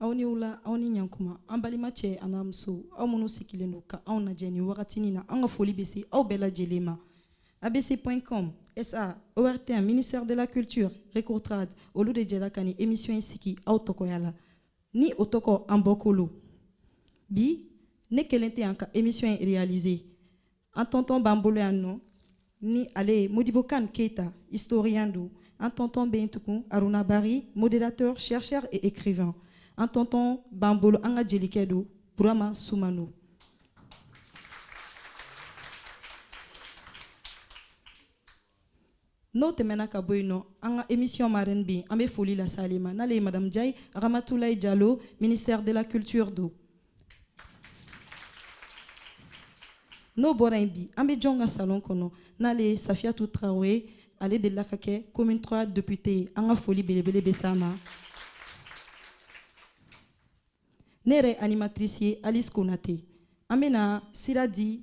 aw ni wula aw ni ɲankuma an balima cɛ an'a muso aw minnu sigilen don ka anw lajɛ nin wagatinin na an ka foli bɛ se aw bɛɛ lajɛlen ma abc point com sa ortm ministère de la culture recotrade olu de jɛra ka nin émission in sigi aw tɔgɔya la ni o tɔgɔ an bɔkolo bi ne kelen tɛ an ka émission in réaliser an tɔntɔn b'an bolo yan nɔ ni ale ye modibo kane keita historien don an tɔntɔn bɛ yen tugun aruna bari modérateur chercheur et écrivain an tɔntɔn b'an bolo an ka jelikɛ don burama sumano N'o tɛmɛna ka bɔ yen nɔ an ka émission marraine bɛ yen an bɛ foli lase ale ma n'ale ye madame Njayi Ramatulayi Jalo ministère de la culture don n'o bɔra yen bi an bɛ jɔn ka salon kɔnɔ n'ale ye Safiyatu Traoré ale delila ka kɛ commune 3 députée ye an ka foli belebele bɛ s'a ma ne yɛrɛ animatrice ye Alice Konate an bɛna sira di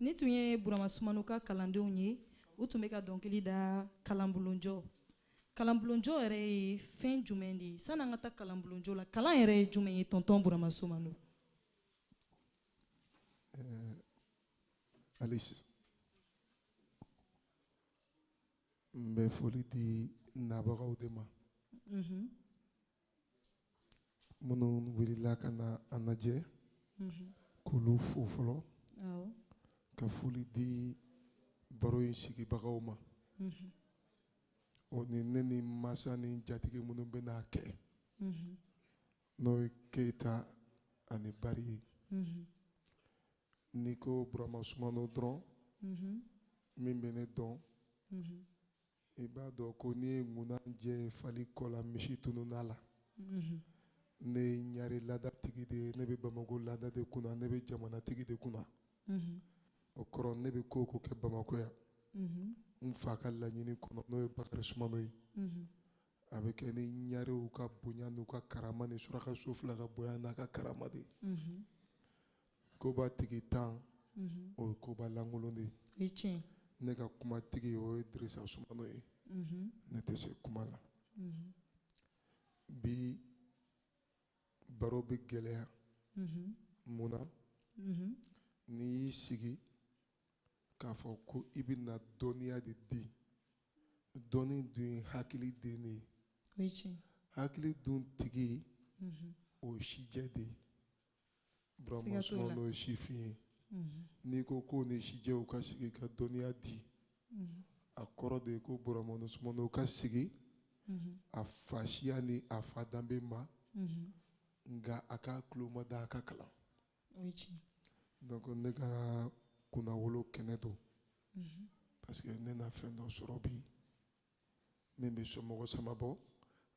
Nin tun ye burama sumano ka kalandenw ye u tun bɛ ka dɔnkili da kalanbulonjɔ kalanbulonjɔ yɛrɛ ye fɛn jumɛn de ye san'an ka taa kalanbulonjɔ la kalan yɛrɛ ye jumɛn ye tɔntɔn burama sumano Euh, Alice n bɛ foli di nabagaw de ma mhm. minnu wulila ka na an lajɛ mhm. k'olu fo fɔlɔ ka foli di baro in sigibagaw ma mhm. o ni ne ni masa ni jatigi minnu bɛn'a kɛ N'o ye keyita ani bari ye n'i ko burama sumano dɔrɔn min bɛ ne dɔn i b'a dɔn ko n'i ye ŋunanjɛ fali kɔ la misi tununn'a la ne ye ɲare laadatigi de ye ne bɛ bamakɔ laada de kunna ne bɛ jamanatigi de kunna o kɔrɔ ne bɛ ko o ko kɛ bamakɔ yan n fa ka laɲini kɔnɔ n'o ye bakari sumano ye a bɛ kɛ ni ɲarew ka bonya n'u ka karama ni surakaso fila ka bonya n'a ka karama de mhm. koba tigintan mhm. o ye koba lankolon de ye ne ka kumatigi o ye dirisa sumano ye mhm. ne tɛ se kuma la bi baro bɛ gɛlɛya mun na n'i y'i sigi k'a fɔ ko i bɛna dɔnniya de di dɔnni dun ye hakili den de ye hakili dun tigi mm-hmm. o ye sijɛ de ye burama sumano ye sifin ye mm-hmm. n'i ko ko ni sijɛw ka sigi ka dɔnniya di mm-hmm. a kɔrɔ de ye ko burama sumano ka sigi a fa siya ni a fa danbe ma nka a ka tulo ma da a ka kalan o ye tiɲɛ donc ne ka kunnawolo kɛnɛ don mhm. parce que ne na fɛn dɔ sɔrɔ bi min bɛ somɔgɔ sama bɔ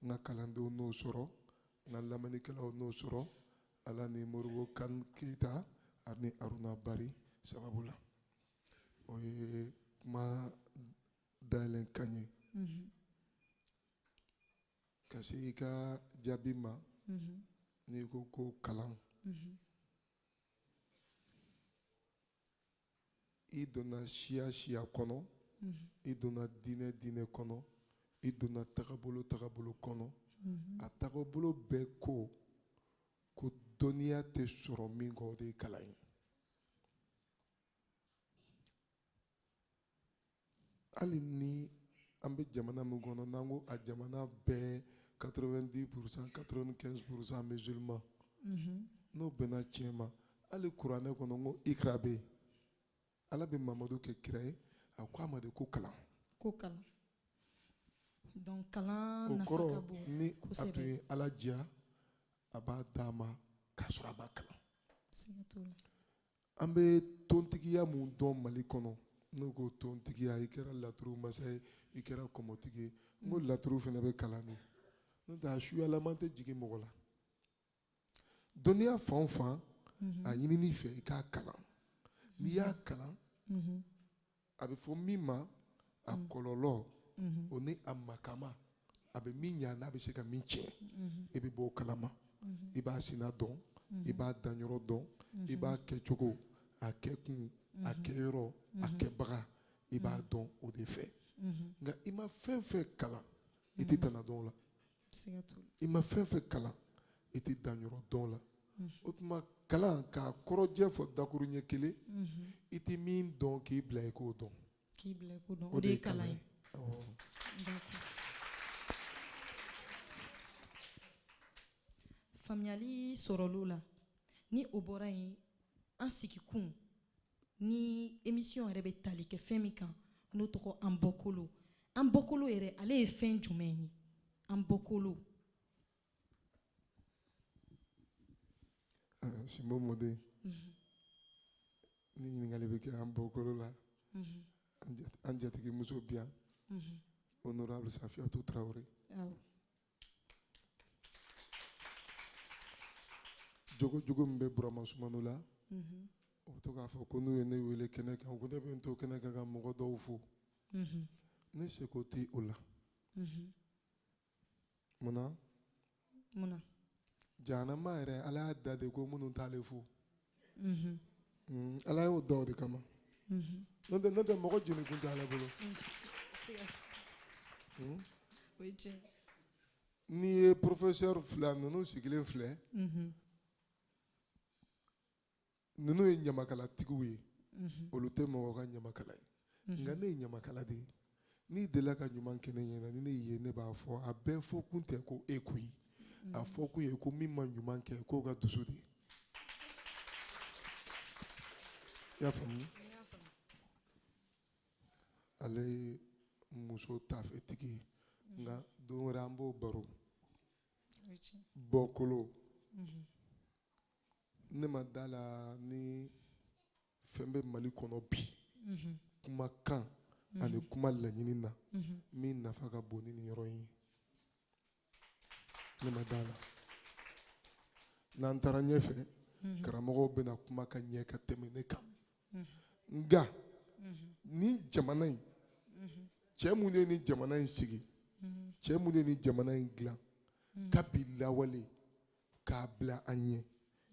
n ka kalandenw n'o sɔrɔ n ka lamɛnnikɛlaw n'o sɔrɔ ala ni moribo kan keyita ani aruna bari sababu la o ye kuma dayɛlɛn kan ye mhm. Ka se i ka jaabi ma, unhun, n'i ko ko kalan, unhun, i donna siya siya kɔnɔ, unhun, i donna diinɛ diinɛ kɔnɔ, i donna tagabolo tagabolo kɔnɔ, unhun, a tagabolo bɛɛ ko ko dɔnniya tɛ sɔrɔ min kɔ o de ye kalan ye. hali ni an bɛ jamana min kɔnɔ n'an ko a jamana bɛɛ 90 pourcent 95 pourcent musulman mhm. n'o bɛnna tiɲɛ ma hali kuranɛ kɔnɔ n ko ikra bɛ yen ala bɛ mamadu kɛ kira ye a ko a ma de ko kalan ko kalan donc kalan nafa ka bon kosɛbɛ o kɔrɔ ni a tun ye ala diya a b'a d'a ma k'a sɔrɔ a ma kalan siga t'o la an bɛ tontigiya mun dɔn mali kɔnɔ n'o ko tontigiya i kɛra laturu masa ye i kɛra kɔmɔtigi ye n ko laturu fana bɛ kalan de n'o tɛ a suyalama tɛ jigin mɔgɔ la dɔnniya fan o fan a ɲinini fɛ i k'a kalan n'i y'a kalan a bɛ fɔ min ma a mm. kɔlɔlɔ mm-hmm. o ni a makama a bɛ min ɲa n'a bɛ se ka min tiɲɛ mm-hmm. i bɛ bɔ o kalama mm-hmm. i b'a sina dɔn i b'a danyɔrɔ dɔn i b'a kɛcogo a kɛkun a kɛyɔrɔ a kɛbaga i b'a dɔn o de fɛ nka i ma fɛn fɛn kalan i tɛ tana dɔn o la i ma fɛn fɛn kalan i tɛ danyɔrɔ dɔn o la mm. o tuma kalan k'a kɔrɔjɛ fɔ dakuruɲɛ kelen mm-hmm. i tɛ min dɔn k'i bila i k'o dɔn o de ye kalan ye faamuyali sɔrɔli o la ni o bɔra yen an sigikun ni emisiyɔn yɛrɛ bɛ tali kɛ fɛn min kan n'o tɔgɔ an bɔkolo an bɔkolo yɛrɛ ale ye fɛn jumɛn ye an bɔkolo ah, Simbo Mode mhm. ni ɲininkali bɛ kɛ an bɔkolo la mhm. an jatigimuso bi yan mhm. honorable Safiatou Traoré jogo jogo min bɛ Burama Sumano la mhm. o bɛ to k'a fɔ ko n'u ye ne wele kɛnɛ kan ko ne bɛ n to kɛnɛ kan ka mɔgɔ dɔw fo mhm. ne seko tɛ o la mhm. munna munna jahanama yɛrɛ ala y'a da de ko minnu t'ale fo ala y'o da o de kama n'o tɛ n'o tɛ mɔgɔ jeni kun tɛ ale bolo n'i ye professeur fila ninnu sigilen filɛ ninnu ye ɲamakalatigiw ye olu tɛ mɔgɔ ka ɲamakala ye nka ne ye ɲamakala de ye n'i delila ka ɲuman kɛ ne ɲɛna ni ne y'i ye ne b'a fɔ a bɛɛ fɔ kun tɛ ko e koyi a fɔ kun ye ko min ma ɲuman kɛ k'o ka dusu de i y'a faamu ale ye muso taafetigi ye nka don wɛrɛ an b'o baro bɔkolo ne ma da la ni fɛn bɛ Mali kɔnɔ bi mhm. kuma kan mhm. ani kuma laɲini na mhm. min nafa ka bon ni nin yɔrɔ in ye ne ma da la n'an taara ɲɛfɛ karamɔgɔw bɛna kuma ka ɲɛ ka tɛmɛ ne kan nka nin jamana in cɛ minnu ye nin jamana in sigi cɛ minnu ye nin jamana in dilan kabi lawale k'a bila an ɲɛ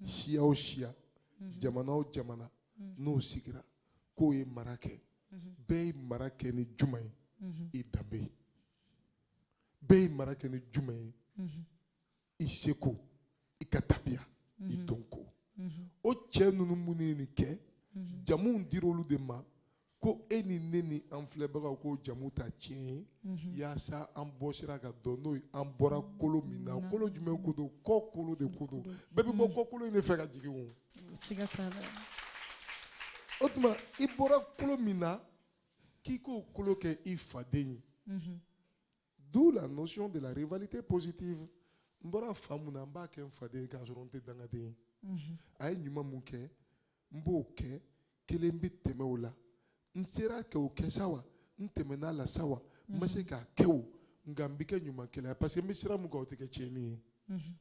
mm. siya o siya mm-hmm. jamana o jamana mm. n'o sigira k'o ye mara kɛ mm-hmm. bɛɛ ye mara kɛ ni juma ye mm-hmm. i danbe ye bɛɛ ye mara kɛ ni juma ye i seko i ka tabiya i dɔnko o cɛ ninnu minnu ye nin kɛ jamuw dir'olu de ma ko e ni ne ni an filɛbagaw k'o jamu ta tiɲɛ ye mhm. yaasa an bɔ sira ka dɔn n'o ye an bɔra kolo min na kolo jumɛn ko don kɔkolo de ko don bɛɛ bɛ bɔ mhm. kɔkolo in de fɛ ka jigin o o tuma i bɔra kolo min na k'i k'o kolo kɛ i faden ye mhm. d'où la notion de la rivalité positive n bɔra fa mun na n b'a kɛ n faden ye k'a sɔrɔ n tɛ dangaden ye a ye ɲuman mun kɛ n b'o kɛ kelen bɛ tɛmɛ o la n sera kɛ o kɛ sa wa n tɛmɛn'a la sa wa n ma se k'a kɛ o nka n bɛ kɛ ɲumankɛla ye parce que n bɛ sira mun kan o tɛ kɛ tiɲɛni ye mhm.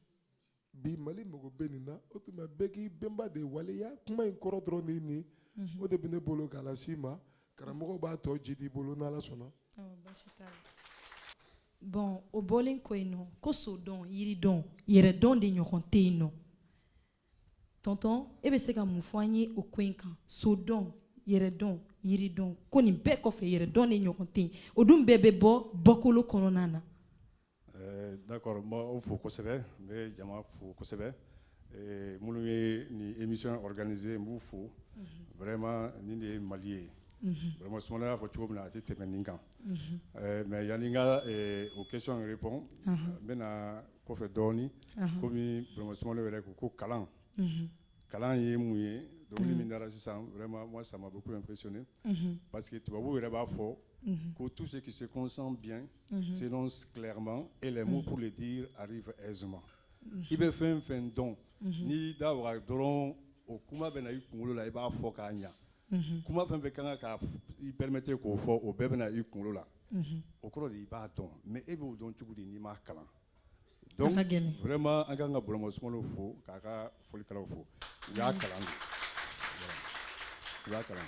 bi mali mago bɛ nin na o tuma bɛɛ k'i bɛnba de waleya kuma in kɔrɔ dɔrɔn de ye nin ye mhm. o de bɛ ne bolo k'a las'i ma karamɔgɔw b'a tɔ ji d'i bolo n'ala sɔnna. bon o bɔlen kɔ yen nɔ ko sodɔn yiridɔn yɛrɛdɔn de ɲɔgɔn tɛ yen nɔ Tɔntɔn e bɛ se ka mun fɔ an ye o ko in kan so dɔn yɛrɛ dɔn yiri dɔn ko nin bɛɛ kɔfɛ yɛrɛ dɔn de ɲɔgɔn tɛ o dun bɛɛ bɛ bɔ bɔkolo kɔnɔna na d'accord n b'aw fo kosɛbɛ n bɛ jama fo kosɛbɛ minnu ye nin émission organiser n b'u fo vraiment nin de ye mali ye vraiment Sumano y'a fɔ cogo min na a tɛ tɛmɛ nin kan mais yanni n ka o question répond n bɛna kɔfɛ dɔɔnin kɔmimasa yɛrɛ ko ko kalan kalan ye mun ye dɔnkili min da sisan wɛrɛ sama kosnen pa que tubabubu yɛrɛ b'a fɔ ko tu se kise kɔnsan bi senma e la mu de di arifɛ zuma i bɛ fɛn fɛn dɔn n'i da dɔrɔn o kuma bɛ na i kunkolo la i b'a fɔ k'a ɲɛ kuma fɛn fɛn kan ka i permettre k'o fɔ o bɛɛ bɛ na i kunkolo la o kɔrɔ de i b'a dɔn mais e b'o dɔn cogo di n'i m'a kalan vraiment an ka kan ka Burama Sumano fo k'a ka folikɛlaw fo u y'a kalan u y'a kalan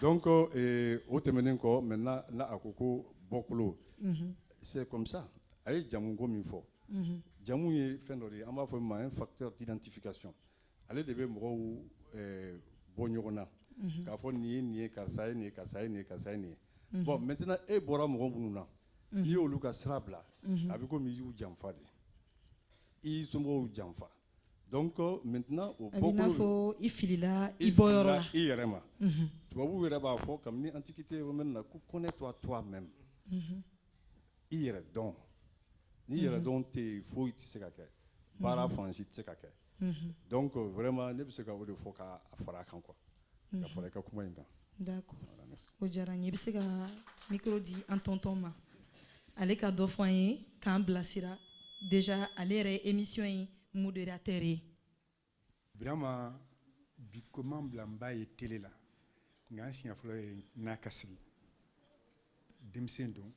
donc o tɛmɛnen kɔ maintenant na a ko ko bɔkolo c'est comme ça a ye jamuko min fɔ jamu ye fɛn dɔ de ye an b'a fɔ min ma un facteur d'identification ale de bɛ mɔgɔw bɔ ɲɔgɔn na k'a fɔ nin ye nin ye karisa ye nin ye karisa ye nin ye karisa ye nin ye bon maintenant e bɔra mɔgɔ minnu na n'i ye olu ka sira bila a bɛ komi i y'u janfa de i y'i somɔgɔw janfa donc maintenant o bɔkolo a bɛ n'a fɔ i filila i bɔyɔrɔ la i yɛrɛ ma tubabuw yɛrɛ b'a fɔ kabini antiquité romaine na ko connais-toi toi-même i yɛrɛ dɔn ni yɛrɛ dɔn tɛ yen foyi tɛ se ka kɛ baara fansi tɛ se ka kɛ donc vraiment ne bɛ se ka o de fɔ k'a fara a kan quoi ka fara i ka kuma in kan d'accord o diyara n ye i bɛ se ka micro di an tɔntɔn ma ale ka dɔ fɔ an ye k'an bilasira déjà ale yɛrɛ ye émission in modérateur ye birama biko bila n b'a ye télé la nka n siɲɛ fɔlɔ ye n'a ka sigi denmisɛn don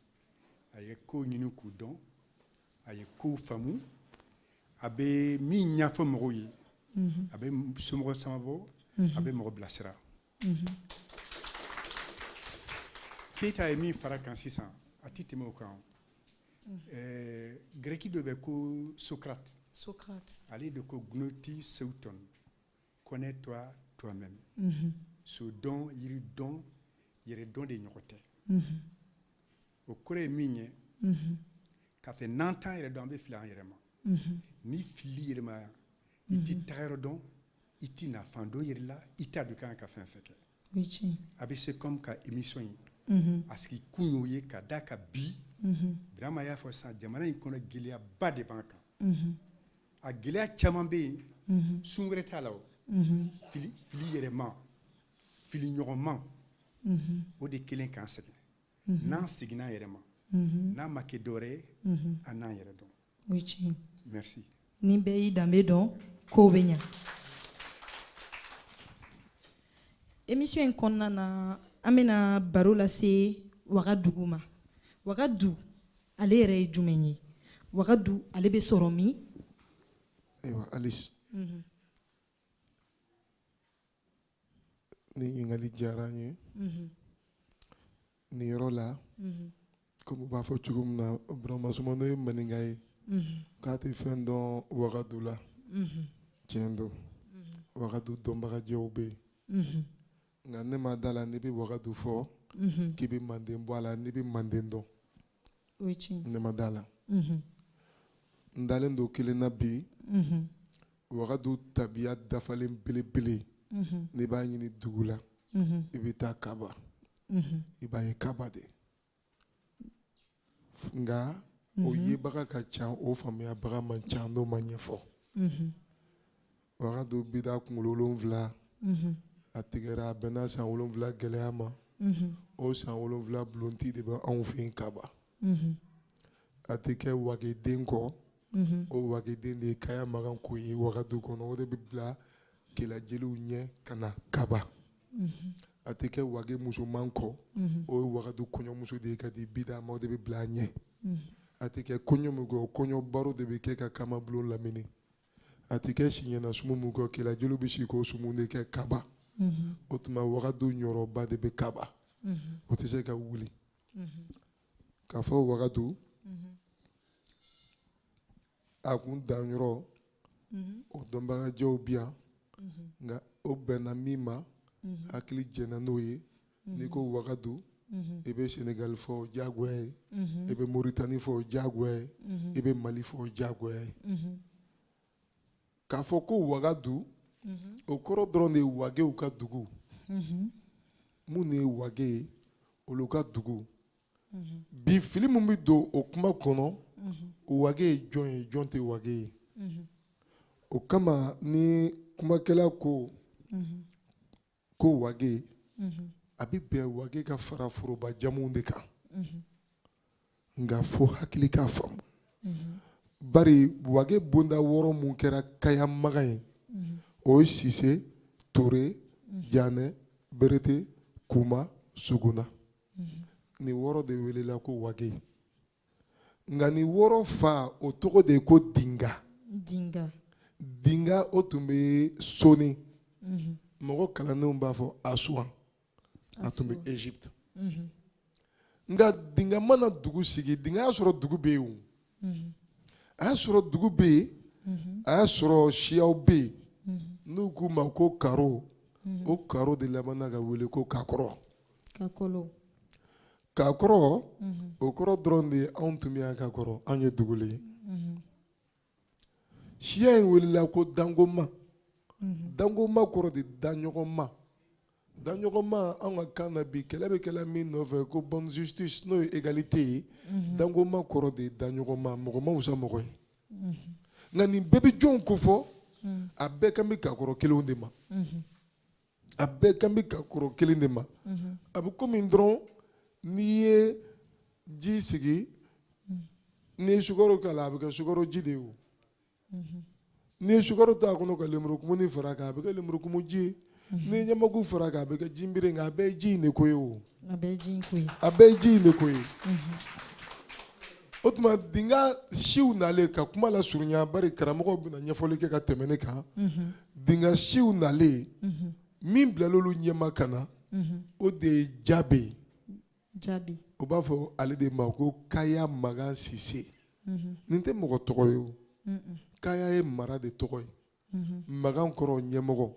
a ye kow ɲini k'u dɔn a ye kow faamu a bɛ min ɲɛfɔ mɔgɔw ye a bɛ somɔgɔ caman bɔ a bɛ mɔgɔ bilasira keyita ye min fara kan sisan a tɛ tɛmɛ o kan grɛki dɔ bɛ ko Socrate ale de ko gnothi seauton connais toi toi même mhm. so dɔn yiri dɔn yɛrɛ dɔn de ɲɔgɔn tɛ mhm. o kɔrɔ ye min ye mhm. k'a fɛ n'an t'an yɛrɛ dɔn an bɛ fili an yɛrɛ ma n'i fili yɛrɛ ma i t'i tagayɔrɔ dɔn i t'i nafan dɔn yɛrɛ la i t'a dɔn i ka kan ka fɛn fɛn kɛ a bɛ se kɔmi ka émission in mhm. a sigi kun y'o ye ka da ka bi mhm. burama y'a fɔ sisan jamana in kɔnɔ gɛlɛyaba de b'an kan mhm. a gɛlɛya caman bɛ yen sun wɛrɛ t'a la o fili yɛrɛma fili ɲɔgɔnma o de kelen k'an sɛgɛn n'an seginna an yɛrɛ ma n'a ma kɛ dɔwɛrɛ ye an n'an yɛrɛ dɔn o ye tiɲɛ merci ni bɛɛ y'i danbe dɔn kow bɛ ɲa émission in kɔnɔna na an bɛna baro lase wagadugu ma wagadu ale yɛrɛ ye jumɛn ye wagadu ale bɛ sɔrɔ min ayiwa alice Ni ɲininkali diyara n ye nin yɔrɔ la komi u b'a fɔ cogo min na Burama Sumano ye maninka ye k'a tɛ fɛn dɔn Wagadu la tiɲɛ don Wagadu dɔnbagajɛw bɛ yen nka ne ma d'a la n'i bɛ Wagadu fɔ k'i bɛ Manden bɔ a la n'i bɛ Manden dɔn ne ma d'a la n dalen don kelen na bi wagadu tabiya dafalen belebele n'i b'a ɲini dugu la i bɛ taa kaba i b'a ye kaba de nka o yebaga ka ca o faamuyabaga man ca n'o ma ɲɛfɔ Wagadu bida kunkolo wolonwula a tigɛra a bɛnna san wolonwula gɛlɛya ma o san wolonwula bulonti de bɛ anw fɛ yen kaba a tɛ kɛ wageden kɔ o wageden de ye kaya magan ko ye wagadu kɔnɔ o de bɛ bila kelajeliw ɲɛ ka na kaba a tɛ kɛ wage musoman kɔ o ye wagadu kɔɲɔmuso de ye ka di bida ma o de bɛ bila a ɲɛ a tɛ kɛ kɔɲɔ min kɔ kɔɲɔ baro de bɛ kɛ ka kamabulon lamini a tɛ kɛ siɲɛna sumu min kɔ kelajeliw bɛ si k'o sumu de kɛ kaba mhm. o tuma wagadu ɲɔrɔba de bɛ kaba mhm. o tɛ se ka wuli mhm. k'a fɔ wagadu a kun danyɔrɔ o dɔnbagajɛw bi yan nka o bɛnna min ma hakili jɛnna n'o ye n'i ko wagadu i bɛ senegali fɔ o diyagoya ye i bɛ moritani fɔ o diyagoya ye i bɛ mali fɔ o diyagoya ye k'a fɔ ko wagadu o kɔrɔ dɔrɔn de ye wagew ka dugu minnu ye wage ye olu ka dugu bi fili min bɛ don o kuma kɔnɔ wage ye jɔn ye jɔn tɛ wage ye o kama ni kumakɛla ko ko wage a bɛ bɛn wage ka fara foroba jamuw de kan nka fo hakili k'a faamu bari wage bonda wɔɔrɔ mun kɛra kaya magan ye o ye sise ture janɛ berete kuma suguna nin wɔɔrɔ de welela ko wage nka nin wɔɔrɔ fa o tɔgɔ de ye ko dinga dinga dinga o tun bɛ soni mhm. mɔgɔ kalannenw b'a fɔ asuwan a tun bɛ egypte mhm. nka dinga ma na dugu sigi dinga y'a sɔrɔ dugu bɛ yen o mhm. a y'a sɔrɔ dugu bɛ yen a y'a sɔrɔ siyaw bɛ yen n'u k'u ma ko karo o karo de labanna ka wele ko kakɔrɔ kakɔlɔ kakɔrɔ o kɔrɔ dɔrɔn de ye anw tun bɛ yan ka kɔrɔ anw ye dugulen ye siya in welela ko dangoma dangoma kɔrɔ de daɲɔgɔnma daɲɔgɔnma anw ka kan na bi kɛlɛ bɛ kɛla min nɔfɛ ko bonne justice n'o ye égalité ye dangoma kɔrɔ de daɲɔgɔnma mɔgɔ ma wusa mɔgɔ ye nka nin bɛɛ bɛ jɔnw ko fɔ a bɛɛ kan bɛ kakɔrɔ kelenw de ma a bɛɛ kan bɛ kakɔrɔ kelen de ma mhm. a bɛ komi dɔrɔn n'i ye ji sigi mhm. n'i ye sukaro k'a la a bɛ kɛ sukaro ji de ye o mhm. n'i ye sukaro to a kɔnɔ ka lemurukumuni fara a kan a bɛ kɛ lemurukumu ji ye n'i ye ɲamaku fara a kan a bɛ kɛ jinbere nka a bɛɛ ye ji in de ko ye o. A bɛɛ ye ji in ko ye. A bɛɛ ye ji in de ko ye. O tuma dinga siw nalen ka kuma la surunya bari karamɔgɔw bɛna ɲɛfɔli kɛ ka tɛmɛ ne kan. Dinga siw nalen min bilal'olu ɲɛma ka na o de ye Jabe ye. Jabe. U b'a fɔ ale de ma ko Kaya Magan Sise. Nin tɛ mɔgɔ tɔgɔ ye o. Kaya ye mara de tɔgɔ ye. magan kɔrɔ ɲɛmɔgɔ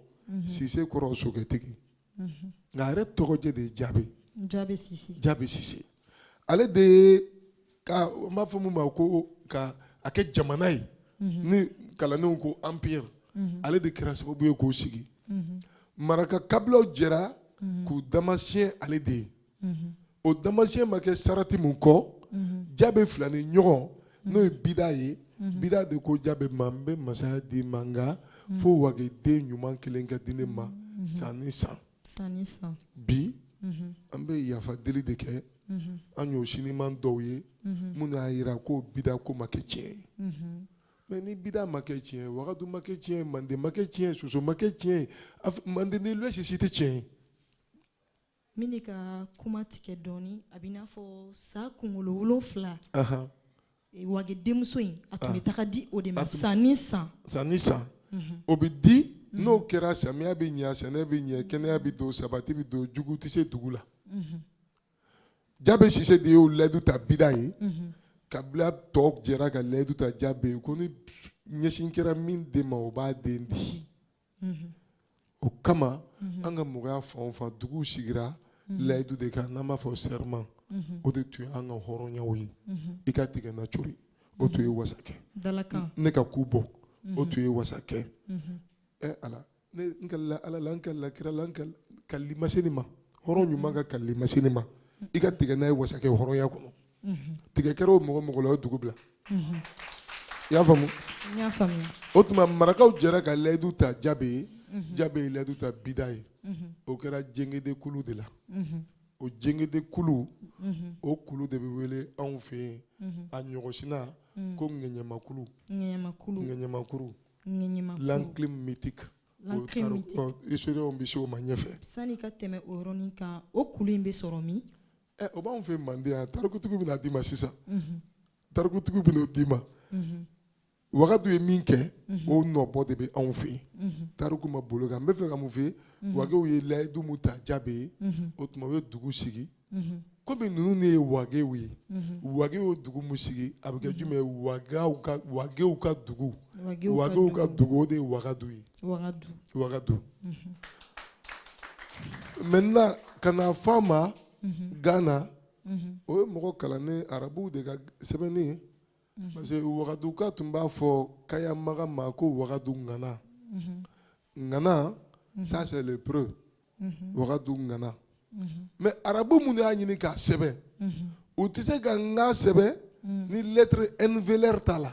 sise kɔrɔ sokɛtigi nka a yɛrɛ tɔgɔjɛ de ye jabe jabe sise ale de ye ka n b'a fɔ min ma ko ka a kɛ jamana ye ni kalandenw ko anpire ale de kɛra sababu ye k'o sigi maraka kabilaw jɛra k'u damasiyɛn ale de ye o damasiɲɛ ma kɛ sarati min kɔ jabe filaninɲɔgɔn n'o ye bida ye bida de ko jabe ma n bɛ masaya d'i ma nka fo wageden ɲuman kelen ka di ne ma san ni san bi an bɛ yafa deli de kɛ an y'o siniman dɔw ye minnu y'a jira ko bida ko ma kɛ tiɲɛ ye mais ni bida ma kɛ tiɲɛ ye wagadu ma kɛ tiɲɛ ye manden ma kɛ tiɲɛ ye soso ma kɛ tiɲɛ ye manden ni lɔsi si tɛ tiɲɛ ye N bɛ n'i ka kuma tigɛ dɔɔnin a bɛ n'a fɔ sa kunkolo wolonwula wage denmuso in a tun bɛ taga di o de ma san ni san o bɛ di n'o kɛra samiya bɛ ɲɛ sɛnɛ bɛ ɲɛ kɛnɛya bɛ don sabati bɛ don jugu tɛ se dugu la jabe sise de y'o layidu ta bida ye kabila tɔw jɛra ka layidu ta jabe ye ko ni ɲɛsin kɛra min de ma o b'a den di o kama an ka mɔgɔya fanba dugu sigira layidu de kan n'an b'a fɔ serment o de tun ye an ka hɔrɔnyaw ye i ka tigɛ na cori o tun ye wasakɛ ne ka ku bɔ o tun ye wasakɛ ɛ ala n kalila ala la n kalila kira la kali ma se nin ma hɔrɔn ɲuman ka kali ma se nin ma i ka tigɛ na ye wasakɛ hɔrɔnya kɔnɔ tigɛ kɛra o mɔgɔ mɔgɔ la o ye dugu bila i y'a faamu o tuma marakaw jɛra ka layidu ta jabe ye jabe ye layidu ta bida ye o kɛra jegede kulu de la o jegede kulu o kulu de bɛ wele anw fɛ yen a ɲɔgɔnsina ko ŋɛɲɛmakulu ŋɛɲɛmakulu l'enclume mythique historiens bɛ se o ma ɲɛfɛ sani ka tɛmɛ o kan o kulu in bɛ sɔrɔ min ɛ o b'anw fɛ manden yan tarikutigi bɛna d'i ma sisan tarikutigi bɛna o d'i ma wagadu ye min kɛ o nɔbɔ de bɛ anw fɛ yen tariku ma bolo kan n bɛ fɛ ka mun fɔ wagew ye layidu mun ta jabe ye o tuma u ye dugu sigi komi ninnu de ye wagew ye wagew ye dugu mun sigi a bɛ kɛ jumɛn ye wagew ka wagew ka dugu wagew ka dugu o de ye wagadu ye wagadu wagadu maintenant ka n'a fɔ a ma Ghana o ye mɔgɔ kalannen arabuw de ka sɛbɛnni ye parce que wagaduka tun b'a fɔ kayamaga ma ko wagadu ŋana ŋana ça c'est le preux wagadu ŋana mais arabu minnu y'a ɲini k'a sɛbɛn u tɛ se ka ŋa sɛbɛn ni lettre n vélaire t'a la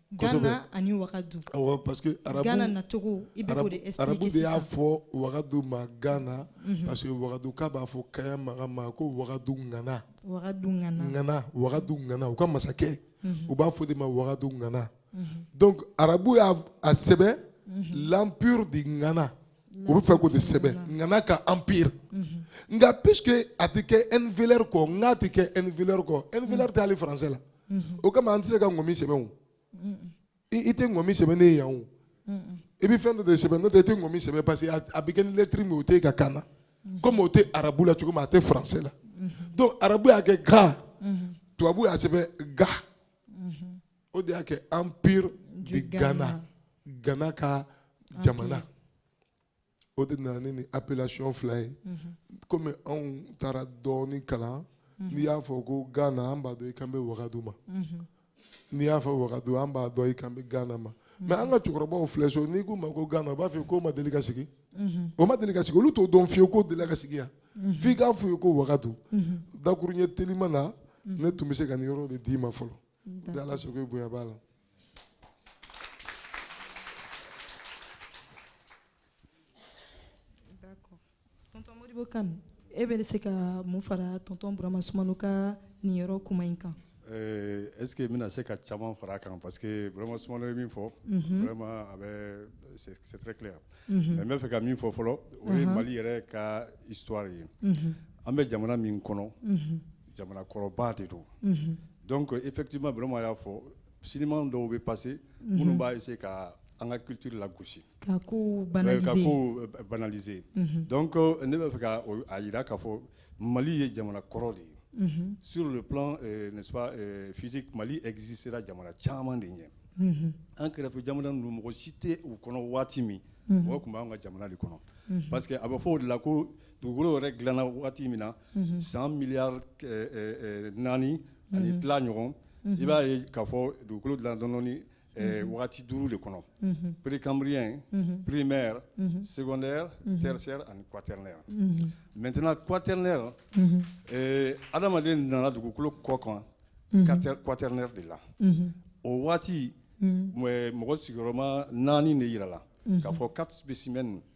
Ghana ani Wagadu. Awɔ parce que arabu Ghana nacogo i bɛ k'o de expliquer sisan. Arabu de y'a fɔ Wagadu ma Ghana mhm. parce que Wagaduka b'a fɔ Kaya Maga ma ko Wagadu ŋana. Wagadu ŋana. Ŋana Wagadu ŋana u ka masakɛ mhm. u b'a f'o de ma Wagadu ŋana. Mhm. Donc arabu y'a sɛbɛn l'empire de ŋana. u bɛ fɛ k'o de sɛbɛn ŋana ka empire nka puisque a tɛ kɛ n vélaire kɔ ŋa tɛ kɛ n vélaire kɔ n vélaire tɛ hali français la o kama an tɛ se ka ŋɔmi sɛbɛn o i tɛ ŋɔmi sɛbɛn ne ye yan o i bɛ fɛn dɔ de sɛbɛn n'o tɛ i tɛ ŋɔmi sɛbɛn parce que a bɛ kɛ ni lɛtiri min o t'e ka kan na komi o tɛ arabu la cogo min a tɛ français la donc arabu y'a kɛ ga tubabu y'a sɛbɛn ga. o de y'a kɛ empire de ghana ghana ka jamana o de nana ni appellation fila ye mhm. komi anw taara dɔɔni kalan mhm. n'i y'a fɔ ko ghana an b'a dɔn i kan bɛ wagadu ma mhm. n'i y'a fɔ wagadu an b'a dɔn i kan bɛ ghana ma mais an ka cɛkɔrɔbaw filɛ so n'i k'u ma ko ghana u b'a fɔ k'o ma deli ka sigi o ma deli ka sigi olu t'o dɔn fiyewu k'o delila ka sigi yan f'i k'a f'u ye ko wagadu dakurunɲɛ telima na ne tun bɛ se ka nin yɔrɔ de d'i ma fɔlɔ Ni ala sago i bonya b'a la tɔntɔn modibo kane e bɛ se ka mun fara tɔntɔn burama sumano ka nin yɔrɔ kuma in kan est-ce que n bɛna se ka caman fara a kan parce que burama sumano ye min fɔ vraiment a bɛ c'est très clair n bɛ fɛ ka min fɔ fɔlɔ o ye mali yɛrɛ ka histoire ye an bɛ jamana min kɔnɔ jamana kɔrɔba de don donc effectivement burama y'a fɔ siniman dɔw bɛ passer minnu b'a essayer ka an ka culture lagosi ka ko banaliser donc ne b'a fɛ ka a jira k'a fɔ mali ye jamana kɔrɔ de ye sur le plan n'est-ce pas physique mali existera jamana caman de ɲɛ an kɛrɛfɛ jamana ninnu mɔgɔ si tɛ u kɔnɔ waati min o tun b'an ka jamana de kɔnɔ parce que a bɛ fɔ o de la ko dugukolo yɛrɛ dilanna waati min na san miliyari naani ani tila ɲɔgɔn i b'a ye k'a fɔ dugukolo dilan dɔnnen waati duuru de kɔnɔ précambrien primaire secondaire tertiaire ani quaternaire maintenant quaternaire adamaden nana dugukolo kɔ kan quaternaire de la o waati mɔgɔ sigiyɔrɔma naani de jirala k'a fɔ quatre spécimens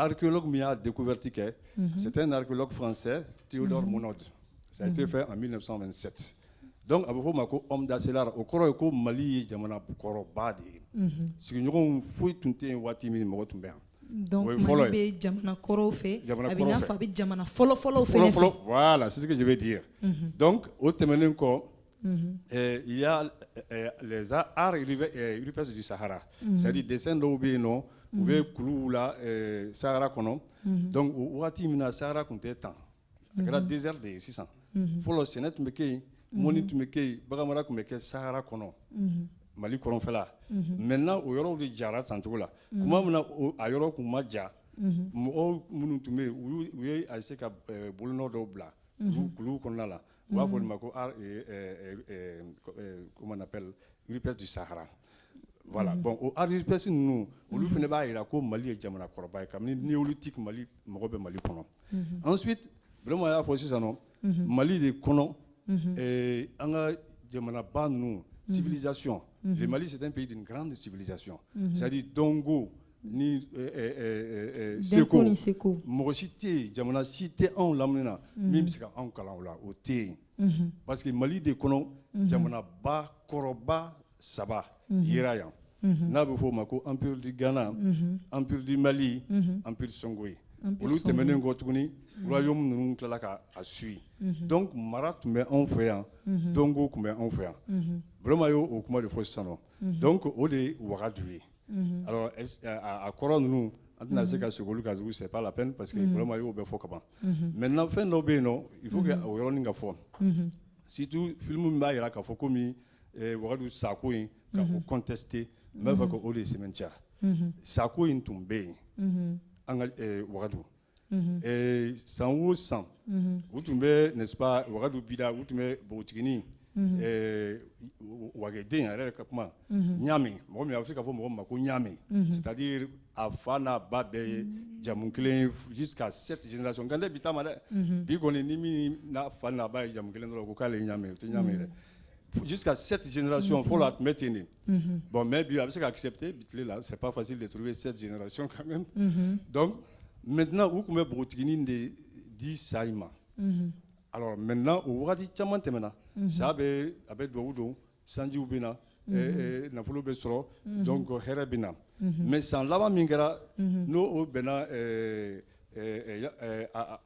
archéologue min y'a découverte kɛ mhm. c'est un archéologue français Théodore mhm. Monod ça a été mhm. fait en 1927 donc a bɛ f'o ma ko homme d'Asselar o kɔrɔ ye ko Mali ye jamana kɔrɔba de ye sigiɲɔgɔnw foyi tun tɛ yen waati min mɔgɔ tun bɛ yan donc Mali bɛ jamana kɔrɔw fɛ a bɛ i n'a fɔ a bɛ jamana fɔlɔfɔlɔw fɛ fɔlɔfɔlɔ voilà c'est ce que je veux dire donc o tɛmɛnen kɔ les arts rupestres du Sahara c'est-à-dire dessin dɔw bɛ yen nɔ u bɛ kuluw la Sahara kɔnɔ waati min na Sahara tun tɛ tan a kɛra désert de ye sisan fɔlɔ sɛnɛ tun bɛ kɛ yen mɔni tun bɛ kɛ yen baganmara tun bɛ kɛ Sahara kɔnɔ Mali kɔrɔnfɛla maintenant o yɔrɔw de jara tan cogo la tuma min na a yɔrɔ tun ma ja mɔgɔw minnu tun bɛ yen u u ye essayer ka bolonɔ dɔw bila kuluw kɔnɔna la u b'a fɔ olu ma ko ah, eh, eh, eh, eh, comment on appelle rupestre du Sahara voilà bon o art rupestre ninnu olu fana b'a jira ko Mali ye jamana kɔrɔba ye kabini néolithique Mali mɔgɔ bɛ Mali kɔnɔ ensuite Burama y'a fɔ sisan nɔ Mali de kɔnɔ eh, an ka jamanaba ninnu civilisation le Mali c'est un pays d'une grande civilisation c'est-à-dire dɔnko ni eh, eh, eh, seko ni seko mɔgɔ si tɛ yen jamana si tɛ anw lamini na mhm. min bɛ se ka anw kalan o la o tɛ yen mhm. parce que mali de kɔnɔ mhm. jamanaba kɔrɔba saba yera yan n'a bɛ fɔ o ma ko empire du ghana empire du mali empire songoye olu tɛmɛnen kɔ tuguni royaume ninnu tilala ka a suivre donc mara tun bɛ anw fɛ yan dɔnko tun bɛ anw fɛ yan burama y'o o kuma de fɔ sisan nɔ donc o de ye wagadu ye Mhm. Alors a kɔrɔ ninnu an tɛna se ka segin olu kan c'est pas la peine parce que mhm. Burama y'o bɛɛ fɔ kaban mhm. maintenant fɛn dɔ bɛ yen nɔ il faut que o yɔrɔnin ka fɔ surtout film min b'a jira k'a fɔ komi eh, wagadu sako in ka o contester n b'a fɛ ka o de sɛmɛntiya sako in tun bɛ yen an ka eh, wagadu Mhm. Eh, san o san mhm. u tun bɛ n'est-ce pas wagadu bida u tun bɛ npogotiginin mhm. eh, wageden yɛrɛ ka kuma ɲaami mɔgɔ min a bɛ se ka fɔ mɔgɔ min ma ko ɲaami c'est-à-dire a fa n'a ba bɛɛ ye jamu kelen jusqu'à sept génération nka ne tɛ bi ta ma dɛ bi kɔni ni min n'a fa n'a ba ye jamu kelen dɔrɔn ko k'ale ye ɲaami o tɛ ɲaami dɛ jusqu'à sept génération fɔlɔ a tun bɛ ten de bon mais bi a bɛ se ka accepter bi tile la c'est pas facile de trouver sept génération quand même donc maintenant u tun bɛ npogotiginin de di sa in ma alors maintenant o wagati caman tɛmɛna sa bɛ a bɛ dugawu don sanjiw bɛ na nafolo bɛ sɔrɔ donc hɛrɛ bɛ na mais san laban min kɛra n'o o bɛnna